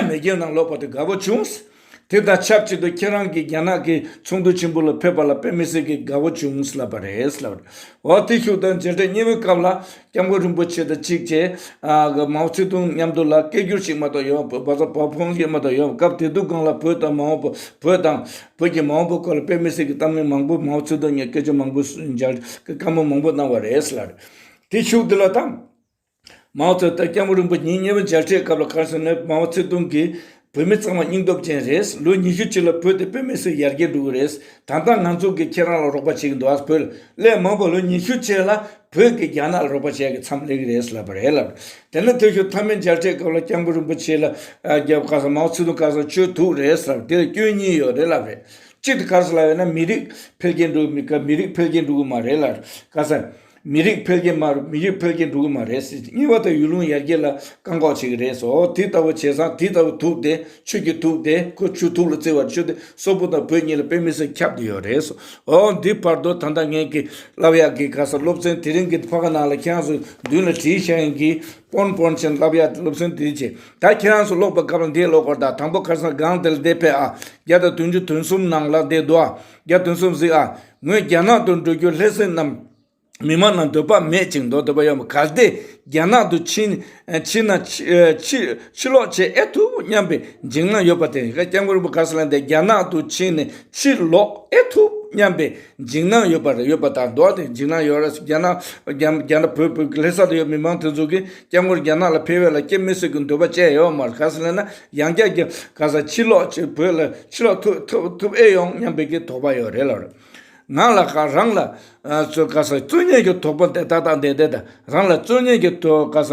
མེས་རྒྱལ་ནང་ལོག་པ་དེ་དགའ་བོ་བྱུང། དེ་དང་ཆབས་ཅིག་ཏུ་ཁྱེད་རང་གིས་རྒྱ་ནག་གི་ཚོགས་འདུ་ཆེན་པོ་ལ་ཕེབས་པ་ལ་དཔེ་མི་སྲིད་ཀྱི་དགའ་བོ་བྱུང་ལབ་པ་རེད། འོ་དེ་ཤུགས་དང་མཇལ་འཕྲད་གཉིས་པོའི་སྐབས་ལ་སྐྱབས་མགོན་རིན་པོ་ཆེ་དང་གཅིག་བཅས་མའོ་ཙེ་ཏུང་མཉམ་དུ་ལ་སྐད་བསྒྱུར་ཞིག་མ་གཏོགས་ཡོད་པ་བོད་བ་ཚོ་བོད་ཕོངས་ཞིག་མ་གཏོགས་ཡོད་པ་སྐབས་དེ་དུས་སྒང་ལ་བོད་དང་མའོ་བོ་བོད་དང་བོད་ཀྱི་མའོ་བོ་སྐོར་ལ་དཔེ་མི་སྲིད་ཀྱི་གཏམ་གླེང་མང་པོ་མའོ་ཙེ་ཏུང་ཉིད་སྐད་ཆ་མང་པོ་མཇལ་དཀའ་མོ་མང་པོ་གནང་བ་རེད། དེ་ཤུགས་དེ་ལ་དང། མའོ་ཙེ་ཏུང་སྐྱབས་མགོན་རིན་པོ་ཉིད་གཉེན་པོ་མཇལ་འཕྲད་སྐབས་ལ་ཁར་སོན་ནས་མའོ་ཙེ་ཏུང་གིས་བོད་མི་ཚང་མ་སྙིང་སྟོབས་ཅན་རེད། ལོ་ཉི་ཤུ་གཅིག་ལ་བོད་དེ་བོད་མི་སུ་ཡར་རྒྱས་འགྲོ་གི་རེད། ད་ལྟ་ང་ཚོ་གིས་ཁྱེད་རང་ལ་རོགས་པ་བྱེད་ཀྱི་འདུག་ཨ་བོད་ཀླད་མང་པོ་ལོ་ཉི་ཤུ་ཕྱེད་ལ་བོད་ཀྱིས་རྒྱ་ནག་ལ་རོགས་པ་བྱས་ཀྱི་མཚམས་ལེགས་རེད་ལབ་པ་རེད་ལབ། དེ་ནས་དེ་ཞོར་མཐའ་མའི་མཇལ་འཕྲད་སྐབས་ལ་སྐྱབས་མགོན་རིན་པོ་ཆེ་ལ་རྒྱབ་ཁ་སང་མའོ་ཙེ་ཏུང་ཁར་སང་ཆོས་ཐུག་རེད་ལབ་དེར་སྐྱོན་གཉིས་ཡོད་རེད་ལབ་རེད། གཅིག་དེ་ཁར་སང་ལ་ཡོད་ན་མི་རིགས་འཕེལ་རྒྱས་འགྲོ་གི་མི་ཁ་མི་རིགས་འཕེལ་རྒྱས་འགྲོ་གི་མ་རེད་ལབ། ཁ་སང། མི་རིགས་འཕེལ་རྒྱས་སྨྲ་རུ་མི་རིགས་འཕེལ་རྒྱས་འགྲོ་གི་མ་རེད་ཟེར་གཉིས་པ་དང་ཡུལ་ལུང་ཡར་རྒྱས་ལ་བཀག་འགོག་བྱེད་ཀྱི་རེད་ཟེར་ཨོ་དེ་ལྟ་བུ་བྱས་ཙང་དེ་ལྟ་བུ་ཐུག་དེ་ཆོས་ཀྱི་ཐུག་དེ་ཁོ་ཆོས་ཐུག་ལ་བརྩི་བར་བྱོས་དེ་སོག་པོ་དང་བོད་གཉིས་ལ་དཔེ་མི་སྲིད་ཁྱབ་དེ་ཡོད་རེད་ཟེར་ཨོ་འདི་བར་དོ་ད་ལྟ་ངས་གི་ལབ་ཡག་གི་ག་ས་སློབ་ཚན་དེ་རིང་གི་ཕ་ག་ནང་ལ་ཁྱེད་རང་སུ་མདུན་ལ་བྲིས་ཤག་ཡིན་གི་པོན་པོན་ཆེན་ལབ་ཡག་སློབ་ཚན་དེ་བྱས་ད་ཁྱེད་རང་སུ་ལོག་པ་གབ་ལ་འདས་ལོག་གོར་ད་དང་པོ་ཁར་སང་སྒང་དེ་ལ་བསྡད་ཕེབས་ཨ་བརྒྱ་དང་དོན་བཅུ་དོན་གསུམ་ནང་ལ་བསྡད་འདུག་ཨ་བརྒྱ་དོན་གསུམ་གཟིགས་ཨ། ངོས་རྒྱ་ནག་ཏུ་འགྲོ་རྒྱུར་ལྷས་སྲིན་རྣམས་མི་མང་ན་འདོད་པ་མེད་ཅིང་མདོག་འདོད་པ་ཡོད་པ་གལ་ཏེ་རྒྱ་ནག་ཏུ་ཕྱིན་ན་ཕྱིར་ལོག་བྱེད་ཨེ་ཐུབ་སྙམ་པའི་འཇིགས་སྣང་ཡོད་པ་དེ་ཡིན་སྐད། སྐྱབས་མགོན་རིན་པོ་གར་སི་ལན་དེ་རྒྱ་ནག་ཏུ་ཕྱིན་ནས་ཕྱིར་ལོག་ཨེ་ཐུབ་སྙམ་པའི་འཇིགས་སྣང་ཡོད་པ་དང་མདོག་དེ་འཇིགས་སྣང་ཡོད་རེད། རྒྱ་ནག་བོད་ལྷས་ས་དེ་ཡོད་མི་མང་དེ་ཚོ་གིས། སྐྱབས་མགོན་རྒྱ་ནག་ལ་ཕེབས་ཡོད་ལ་སྐྱེ་མི་སྲིད་ཀྱི་འདོད་པ་བཅས་ཡོད་མར་ག་ས་ལ་ན་ཡང་སྐྱབས་ཀྱི་ག་ས་ཕྱིར་ལོག་ཅིག་བོད་ལ་ཕྱིར་ལོག་ཐུབ་ཐུབ་ཨེ་ཡོང་སྙམ་པའི་གི་དོགས་པ་ཡོད་རེད་ལབ་ང་ལ་ག་རང་ལ་ཚོའི་ག་ས་རྩོད་ཉེས་ཀྱི་དོགས་པ་འདི་ཏག་ཏག་འདི་འདི་རང་ལ་རྩོད་ཉེས་ཀྱི་དོགས་ག་ས་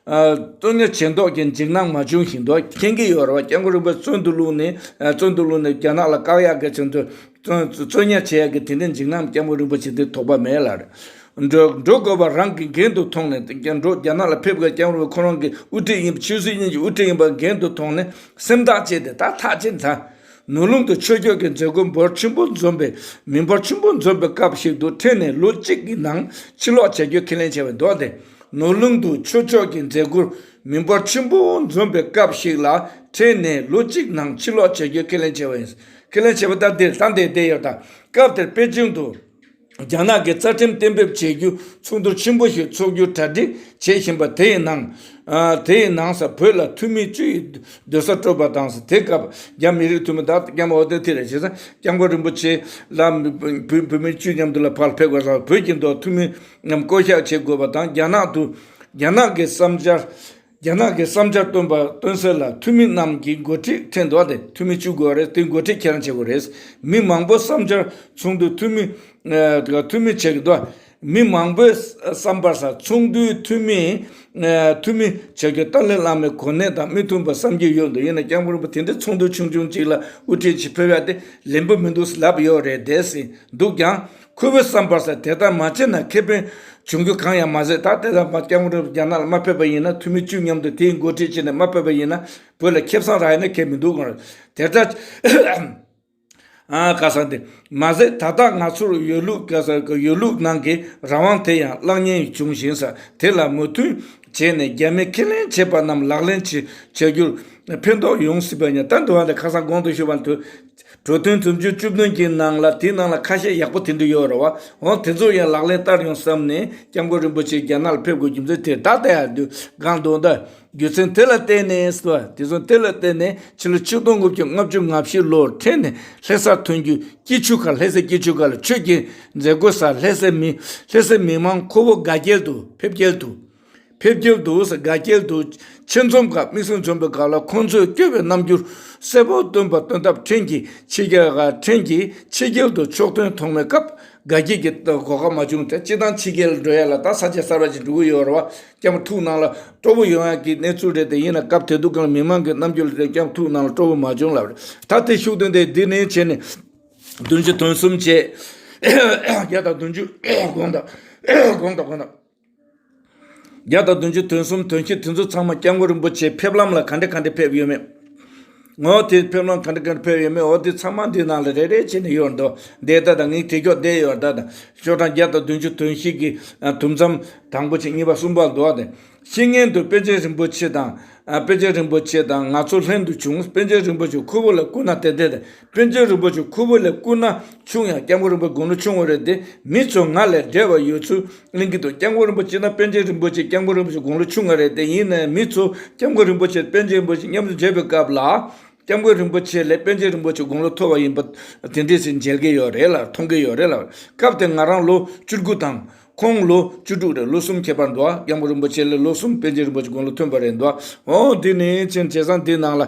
རྩོད་ཉེས་བྱེད་མདོག་གི་འཇིགས་སྣང་མ་བྱུང་ཞིག་འདོག་མཁྱེན་གི་ཡོད་རེད་བ་སྐྱབས་མགོན་རིན་པོ་བརྩོན་དུ་བླུག་ནས་བརྩོན་དུ་བླུག་ནས་རྒྱ་ནག་ལ་བཀག་ཡག་གི་ཚུན་དུ་རྩོད་ཉེས་བྱེད་ཡག་གི་དེ་འདྲའི་འཇིགས་སྣང་སྐྱབས་མགོན་རིན་པོ་ཆེ་འདི་དོགས་པ་མེད་ལ་རེད། འགྲོ་དགོས་པ་རང་གི་འགན་དུ་མཐོང་ནས་རྒྱ་འགྲོ་རྒྱ་ནག་ལ་ཕེབས་དགོས་རྒྱ་འོར་བའི་ཁོ་རང་གི་དབུ་ཁྲིད་ཡིན་པ་ཆོས་སྲིད་གཉིས་ཀྱི་དབུ་ཁྲིད་ཡིན་པ་འགན་དུ་མཐོང་ནས་སེམས་ཐག་བཅད་དེ་ད་ཐག་བཅད་མཐར། ནུས་སློང་དུ་ཆོས་ཕྱོགས་ཀྱི་མཛད་སྒོ་འབོར་ཆེན་པོ་འཛོམས་པའི་མི་འབོར་ཆེན་པོ་འཛོམས་པའི་སྐབས་ཤིག་ཏུ་ཕྲན་ནས་ལོ་གཅིག་གི་ནང་ཕྱིར་ལོག་བྱ་རྒྱུའི་ཁས་ལེན་བྱས་པའི་མདོ་དེ། ནུས་སློང་དུ་ཆོས་ཕྱོགས་ཀྱི་མཛད་སྒོ་མི་འབོར་ཆེན་པོ་འཛོམས་པའི་སྐབས་ཤིག་ལ་ཕྲན་ནས་ལོ་གཅིག་ནང་ཕྱིར་ལོག་བྱ་རྒྱུའི་ཁས་ལེན་བྱས་པ་ཡིན། ཁས་ལེན་བྱས་པ་ལྟར་དེར་ད་ལྟའི་དེ་ཡོད་དང་སྐབས་དེར་པེ་ཅིང་དུ། རྒྱ་ནག་གི་རྩ་ཁྲིམས་གཏན་འབེབས་བྱེད་རྒྱུ་ཚོགས་འདུ་ཆེན་པོ་ཞིག་འཚོགས་རྒྱུ་གྲ་སྒྲིག་བྱེད་བཞིན་པ་དེའི་ནང། དེའི་ནང་ས་བོད་ལ་འཐུས་མི་བཅུ་ཡི་སྡོད་ས་སྤྲོད་པ་དང། དེ་སྐབས་རྒྱ་མི་རིགས་འཐུས་མི་དག་ཀྱང་འོ་དོད་ཐི་རེ་བྱེད་ས་སྐྱབས་མགོན་རིན་པོ་ཆེ་ལ་བོད་མི་བཅུ་མཉམ་དུ་ལ་ཕར་ཕེབས་དགོས་ས་བོད་ཀྱི་མདོ་འཐུས་མི་རྣམས་བསྐོ་གཞག་བྱེད་དགོས་པ་དང་རྒྱ་ནག་ཏུ་རྒྱ་ནག་གི་བསམ་འཆར། རྒྱ་ནག་གི་བསམ་འཆར་བཏོན་པ་བཏོན་ཟེར་ལ་འཐུས་མི་རྣམས་ཀྱི་མགོ་ཁྲིད་ཁྲེན་ཏུའུ་དེ་འཐུས་མི་བཅུ་དགོས་པ་རེད་དེ་མགོ་ཁྲིད་ཁྱེད་རང་བྱེད་དགོས་རེད། མི་མང་པོ་བསམ་འཆར་ཚོགས་འདུའི་འཐུས་མི། འཐུས་མི་བྱེད་དགོས། མི་མང་པོའི་བསམ་པར་ས་ཚོགས་འདུའི་འཐུས་མི། འཐུས་མི་བྱེད་དགོས་ཏཱ་ལའི་བླ་མའི་གོ་གནས་དང་མི་མཐུན་པ་བསམ་གྱི་ཡོད་འདུག་ཡིན་ན་ཀྱང་མི་རུང་པ་དེ་འདྲའི་ཚོགས་འདུ་ཆུང་ཆུང་གཅིག་ལ་དབུ་ཁྲིད་བྱེད་ཕོད་ཡ་དེ་ལན་པོ་མི་འདུག་ལབ་ཡོད་རེད་འདས་ཟིན་འདུག་ཀྱང། ཁོ་བོའི་བསམ་པར་ཟད་དེ་ལྟར་མ་བྱས་ན་ཁེ་ཕན་བྱུང་རྒྱུ་གང་ཡང་མ་ཟད་ད་ལྟའི་ལམ་ཕར་སྐྱབས་མགོན་རེད་རྒྱ་ནག་ལ་མ་ཕེབས་པ་ཡིན་ན་འཐུས་མི་བཅུ་མཉམ་དུ་དེའི་མགོ་ཁྲིད་བྱས་ནས་མ་ཕེབས་པ་ཡིན་ན་བོད་ལ་ཁེབས་སང་རག་ཡོད་ན་ཁེབས་མི་འདུག་གང་རེད་དེ་ལྟར་ཨང་ཁ་སང་དེ་མ་ཟད་ད་ལྟ་ང་ཚོར་ཡོད་ལུགས་ཡོད་ལུགས་ནང་གི་རང་དབང་དེ་ཡང་བརླག་ཉེན་བྱུང་བཞིན་ས་དེ་ལ་མོས་མཐུན་བྱས་ནས་རྒྱ་མིས་ཁས་ལེན་བྱས་པ་རྣམས་ལག་ལེན་བྱེད་བྱ་རྒྱུར་ཕན་ཐོག་ཡོང་སྲིད་པ་ཡིན་ད་འདི་བ་འདི་ཁ་སང་གོང་དུ་ཞུས་པ་དུ། འགྲོ་དོན་རྩོམ་ཆོས་བཅུ་བདུན་གྱི་ནང་ལ་དེའི་ནང་ལ་ཁ་ཤས་ཡག་པོ་དེ་འདུག་ཡོད་རེད་བ། འོན་དེ་ཚོ་ཡང་ལག་ལེན་བསྟར་ཡོང་བསམ་ནས་སྐྱབས་མགོན་རིན་པོ་ཆེ་རྒྱ་ནག་ལ་ཕེབས་དགོས་རྒྱུ་མཚན་དེ་དག་ད་ཡར་འདུག་སྒང་དུ་འདུག་རྒྱུ་མཚན་དེ་ལ་བརྟེན་ནས་བ། དེ་ཚོ་དེ་ལ་བརྟེན་ནས་ཕྱི་ལོ་ཆིག་སྟོང་དགུ་བརྒྱ་ལྔ་བཅུ་ང་བཞི་ལོར་ཕྲན་ནས་ལྷེ་སར་ཐོན་རྒྱུའི་སྐྱིད་ཆུ་ཁར་ལྷེ་སའི་སྐྱིད་ཆུ་ཁར་ལ་ཆོས་ཁྱེར་མཛད་དགོས་སར་ལྷེ་སའི་མི་ལྷེ་སའི་མི་མང་ཁོ་བོ་དགའ་རྒྱལ་དུ་ཕེབས་རྒྱལ་དུ། ཕེབས་ཀྱིན་འདུག་དགའ་སྐྱེལ་དུ་ཕྱིར་འཛོམས་སྐབས་མིག་ཟུང་འཛུམ་པའི་སྒང་ལ་ཁོང་ཚོས་སྐྱོ་བའི་རྣམ་འགྱུར་གསལ་པོར་སྟོན་པ་སྟོན་སྟབས་ཕྲན་གྱིས་ཕྱི་རྒྱལ་ཁ་ཕྲན་གྱིས་ཕྱི་རྒྱལ་དུ་ཕྱོགས་དོན་མཐོང་མེད་སྐབས་དགའ་སྐྱེལ་གྱི་གོ་སྐབས་མ་བྱུང་སྟེ་ཅི་དང་ཕྱི་རྒྱལ་འགྲོ་ཡ་ལ་ད་ས་ཆ་གསར་པ་ཞིག་འགྲོ་གི་ཡོད་རེད་བ་སྐྱབས་མ་ཐུག་ནང་ལ་སྤྲོ་པོ་ཡོང་ཡ་གི་གནས་ཚུལ་རེད་དེ་ཡིན་ན་སྐབས་དེ་དུས་གང་མི་མང་གི་རྣམ་འགྱུར་ལ་བལྟས་སྐྱབས་ཐུག་ནང་ལ་སྤྲོ་པོ་མ་བྱུང་ལབ་རེད་ད་དེ་ཤུགས་བསྟན་ཏེ་འདི་ནས་ཕྱི་ནས་བདུན་བཅུ་དོན་གསུམ་བྱས་རྒྱ་དང་བདུན་བཅུ་གོང་དང་གོང་དང་གོང་དང། བརྒྱ་དང་བདུན་ཅུ་དོན་གསུམ་དོན་གྱིས་དེ་ཚོ་ཚང་མ་སྐྱབས་མགོན་རིན་པོ་ཆེའི་ཕེབས་ལམ་ལ་ག་འདྲས་ག་འདྲས་ཕེབས་ཡོད་མེད། ངོ། དེའི་ཕེབས་ལམ་ག་འདྲས་ག་འདྲས་ཕེབས་ཡོད་མེད་འོ་དེ་ཚང་མ་འདིའི་ནང་ལ་རེ་རེ་བྱས་ནས་ཡོད་འདུག་འདས་ད་དང་ངའི་དེ་ཁྱོག་བསྡད་ཡོད་ད་དང། ཤོག་གྲངས་བརྒྱ་དང་བདུན་ཅུ་དོན་བཞི་གི་དུམ་མཚམས་དང་པོ་ཆེ་གཉིས་པ་གསུམ་པ་འདུག་སྟེ། ཕྱི་ངན་དུ་དཔལ་ཆེན་རིན་པོ་ཆེ་དང། དཔལ་ཆེན་རིན་པོ་ཆེ་དང་ང་ཚོ་ལྷན་དུ་བྱུང། དཔལ་ཆེན་རིན་པོ་ཆེ་ཁུ་བོ་ལ་སྐུ་ན་དེ་དེ་དང། སྤུན་ཆུང་རིན་པོ་ཆུང་ཁུ་བོ་ལས་སྐུ་ན་ཆུང་ཡང་སྐྱབས་མགོན་རིན་པོའི་དགུང་ལོ་ཆུང་བ་རེད་དེ་མི་ཚོ་ང་ལས་བྲེལ་བ་ཡོད་ཚུལ་གླེང་གི་འདུག་སྐྱབས་མགོན་རིན་པོ་ཆེ་དང་སྤེན་ཆེན་རིན་པོ་ཆེ་སྐྱབས་མགོན་རིན་པོ་ཆེ་དགུང་ལོ་ཆུང་བ་རེད་དེ་ཡིན་ནའི་མི་ཚོ་སྐྱབས་མགོན་རིན་པོ་ཆེ་དང་སྤེན་ཆེན་རིན་པོ་ཆེ་མཉམ་དུ་མཇལ་བའི་སྐབས་ལ། སྐྱབས་མགོན་རིན་པོ་ཆེ་ལས་སྤེན་ཆེན་རིན་པོ་ཆེ་དགུང་ལོ་མཐོ་བ་ཡིན་པ་དེ་འདྲས་ཞིག་མཇལ་གྱི་ཡོད་རེད་ལ་མཐོང་གི་ཡོད་རེད་ལ། སྐབས་དེར་ང་རང་ལོ་བཅུ་དགུ་དང། ཁོང་ལོ་བཅུ་དྲུག་རེད་ལོ་གསུམ་ཁྱད་པར་འདུག་ཨ་སྐྱབས་མགོན་རིན་པོ་ཆེ་ལས་ལོ་གསུམ་སྤེན་ཆེན་རིན་པོ་ཆེ་དགུང་ལོ་མཐོན་པ་རེད་འདུག་ཨ་འོང་འདི་ནི་ཆེན་བྱས་ཙང་འདི་ནང་ལ།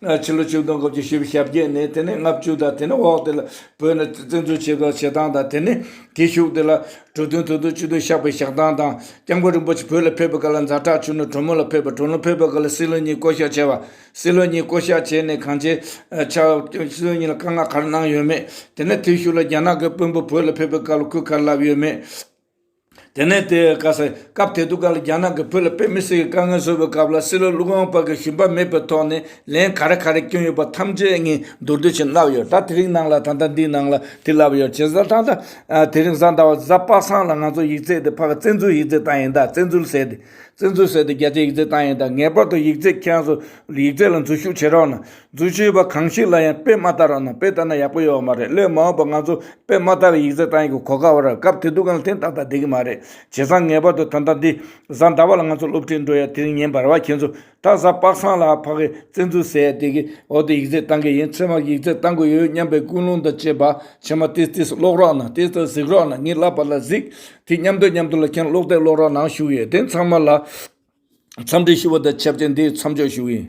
ཕྱི་ལོ་བཅུ་དང་དགུ་བཅུ་བཞི་བཞི་ཞབས་བརྒྱད་ནས་དེ་ནས་ལྔ་བཅུ་དང་དེ་ནས་འོག་དེ་ལ་བོད་ནས་བཙན་འཛུལ་བྱས་པའི་བྱེད་སྟངས་དང་དེ་ནས་དེ་བཞུགས་དེ་ལ་གྲུ་བདུན་ཐུགས་དོན་སྤྱི་དོན་བཤགས་པའི་བཤགས་སྟངས་དང་སྐྱབས་མགོན་རིན་པོ་ཆེ་བོད་ལ་ཕེབས་པའི་སྐབས་ལ་འཛའ་དྲག་ཆུ་ནོར་དྲོན་མོ་ལ་ཕེབས་པ་དྲོན་ལོ་ཕེབས་པའི་སྐབས་ལ་སྲིད་བློན་གཉིས་བསྐོ་བཞག་བྱས་པ་སྲིད་བློན་གཉིས་བསྐོ་བཞག་བྱས་ནས་གང་བྱས་ཆ་སྲིད་བློན་གཉིས་ལ་བཀའ་མངགས་ག་རེ་གནང་ཡོད་མེད་དེ་ནས་དེ་བཞུགས་ལ་རྒྱ་ནག་གི་དཔོན་པོ་བོད་ལ་ཕེབས་པའི་སྐབས་ལ་གུས་ག་རེ་ལབ་ཡོད་མེད། དེ་ནས་དེ་ག་ས་སྐབས་དེ་དུས་ག་ལ་རྒྱ་ནག་གི་བོད་ལ་དཔེ་མི་སྲིད་ཀྱི་དཀའ་ངལ་བཟོས་པའི་སྐབས་ལ་སྲིད་ལོ་ཀླུ་སྒང་པ་གི་ཞུམ་པ་མེད་པའི་ཐོག་ནས་ལན་ག་རེ་ག་རེ་བསྐྱོན་ཡོད་པ་ཐམས་ཅད་ངས་མདོར་བསྡུས་བཞིན་བསླབས་ཡོད་ད་དེ་རིང་ནང་ལ་ད་ལྟ་འདིའི་ནང་ལ་དེ་བསླབས་ཡོད་བྱས་ཙང་ད་དེ་རིང་གཟའ་ཟླ་བ་གཟའ་དཔག་བསམ་ལ་ང་ཚོ་ཡིག་རྩལ་དེ་ཕ་གི་བཙན་འཛུལ་ཡིག་རྩལ་བཏང་ཡིན་ད་བཙན་འཛུལ་ཟེར་དེ་བཙན་འཛུལ་ཟེར་དེ་རྒྱ་ཆེའི་ཡིག་རྩལ་བཏང་ཡིན་ད་ངེས་པར་དུ་ཡིག་རྩལ་ཁྱེད་ཚོ་ཡིག་རྩལ་ལ་འཛུལ་ཞུགས་བྱེད་རོགས་གནང། རྫུན་བཤད་པ་གང་ཞིག་ལ་ཡང་དཔེ་མ་ལྟ་རོགས་གནང་དཔེ་ལྟ་ན་ཡག་པོ་ཡོད་བ་མ་རེད་སླད་མ་འོངས་པ་ང་ཚོ་དཔེ་མ་ལྟ་བའི་ཡིག་རྩལ་བཏང་ཡིན་གོ་གོ་དཀའ་བ་རེད་སྐབས་དེ་དུས་གང་ལ་ཐེངས་ལྟ་ལྟ་བསྡད་ཀྱི་མ་རེད་བྱས་ཙང་ངེས་པར་དུ་ད་ལྟ་འདི་བཟའ་ཟླ་བ་ལ་ང་ཚོ་སློབ་ཁྲིད་འགྲོ་ཡ་དེ་རིང་ཉིན་འབར་བ་ཁྱེད་ཚོ་ད་བཟའ་དཔག་སངས་ལ་ཕ་གི་བཙན་འཛུལ་ཟེར་ཡ་དེ་གི་འོག་ཏུ་ཡིག་རྩལ་བཏང་གི་ཡིན་ཚེ་མ་ཡིག་རྩལ་བཏང་གི་ཡོད་སྙམ་པའི་ཀུན་སློང་དང་བཅས་པ་ཁྱེད་མ་ཏིས་ཏིས་ཀློག་རོགས་གནང་ཏིས་ཏིས་གཟིགས་རོགས་གནང་ངས་བསླབ་པ་ལ་གཟིགས་དེ་མཉམ་དུ་མཉམ་དུ་ལ་ཁྱེད་ཀློག་དེ་ཀློག་རོགས་གནང་ཞུ་ཡི་དེ་ཚང་མ་ལ་འཚམས་འདྲི་ཞུ་བ་དང་ཆབས་ཅིག་འདིའི་མཚམས་འཇོག་ཞུ་ཡི།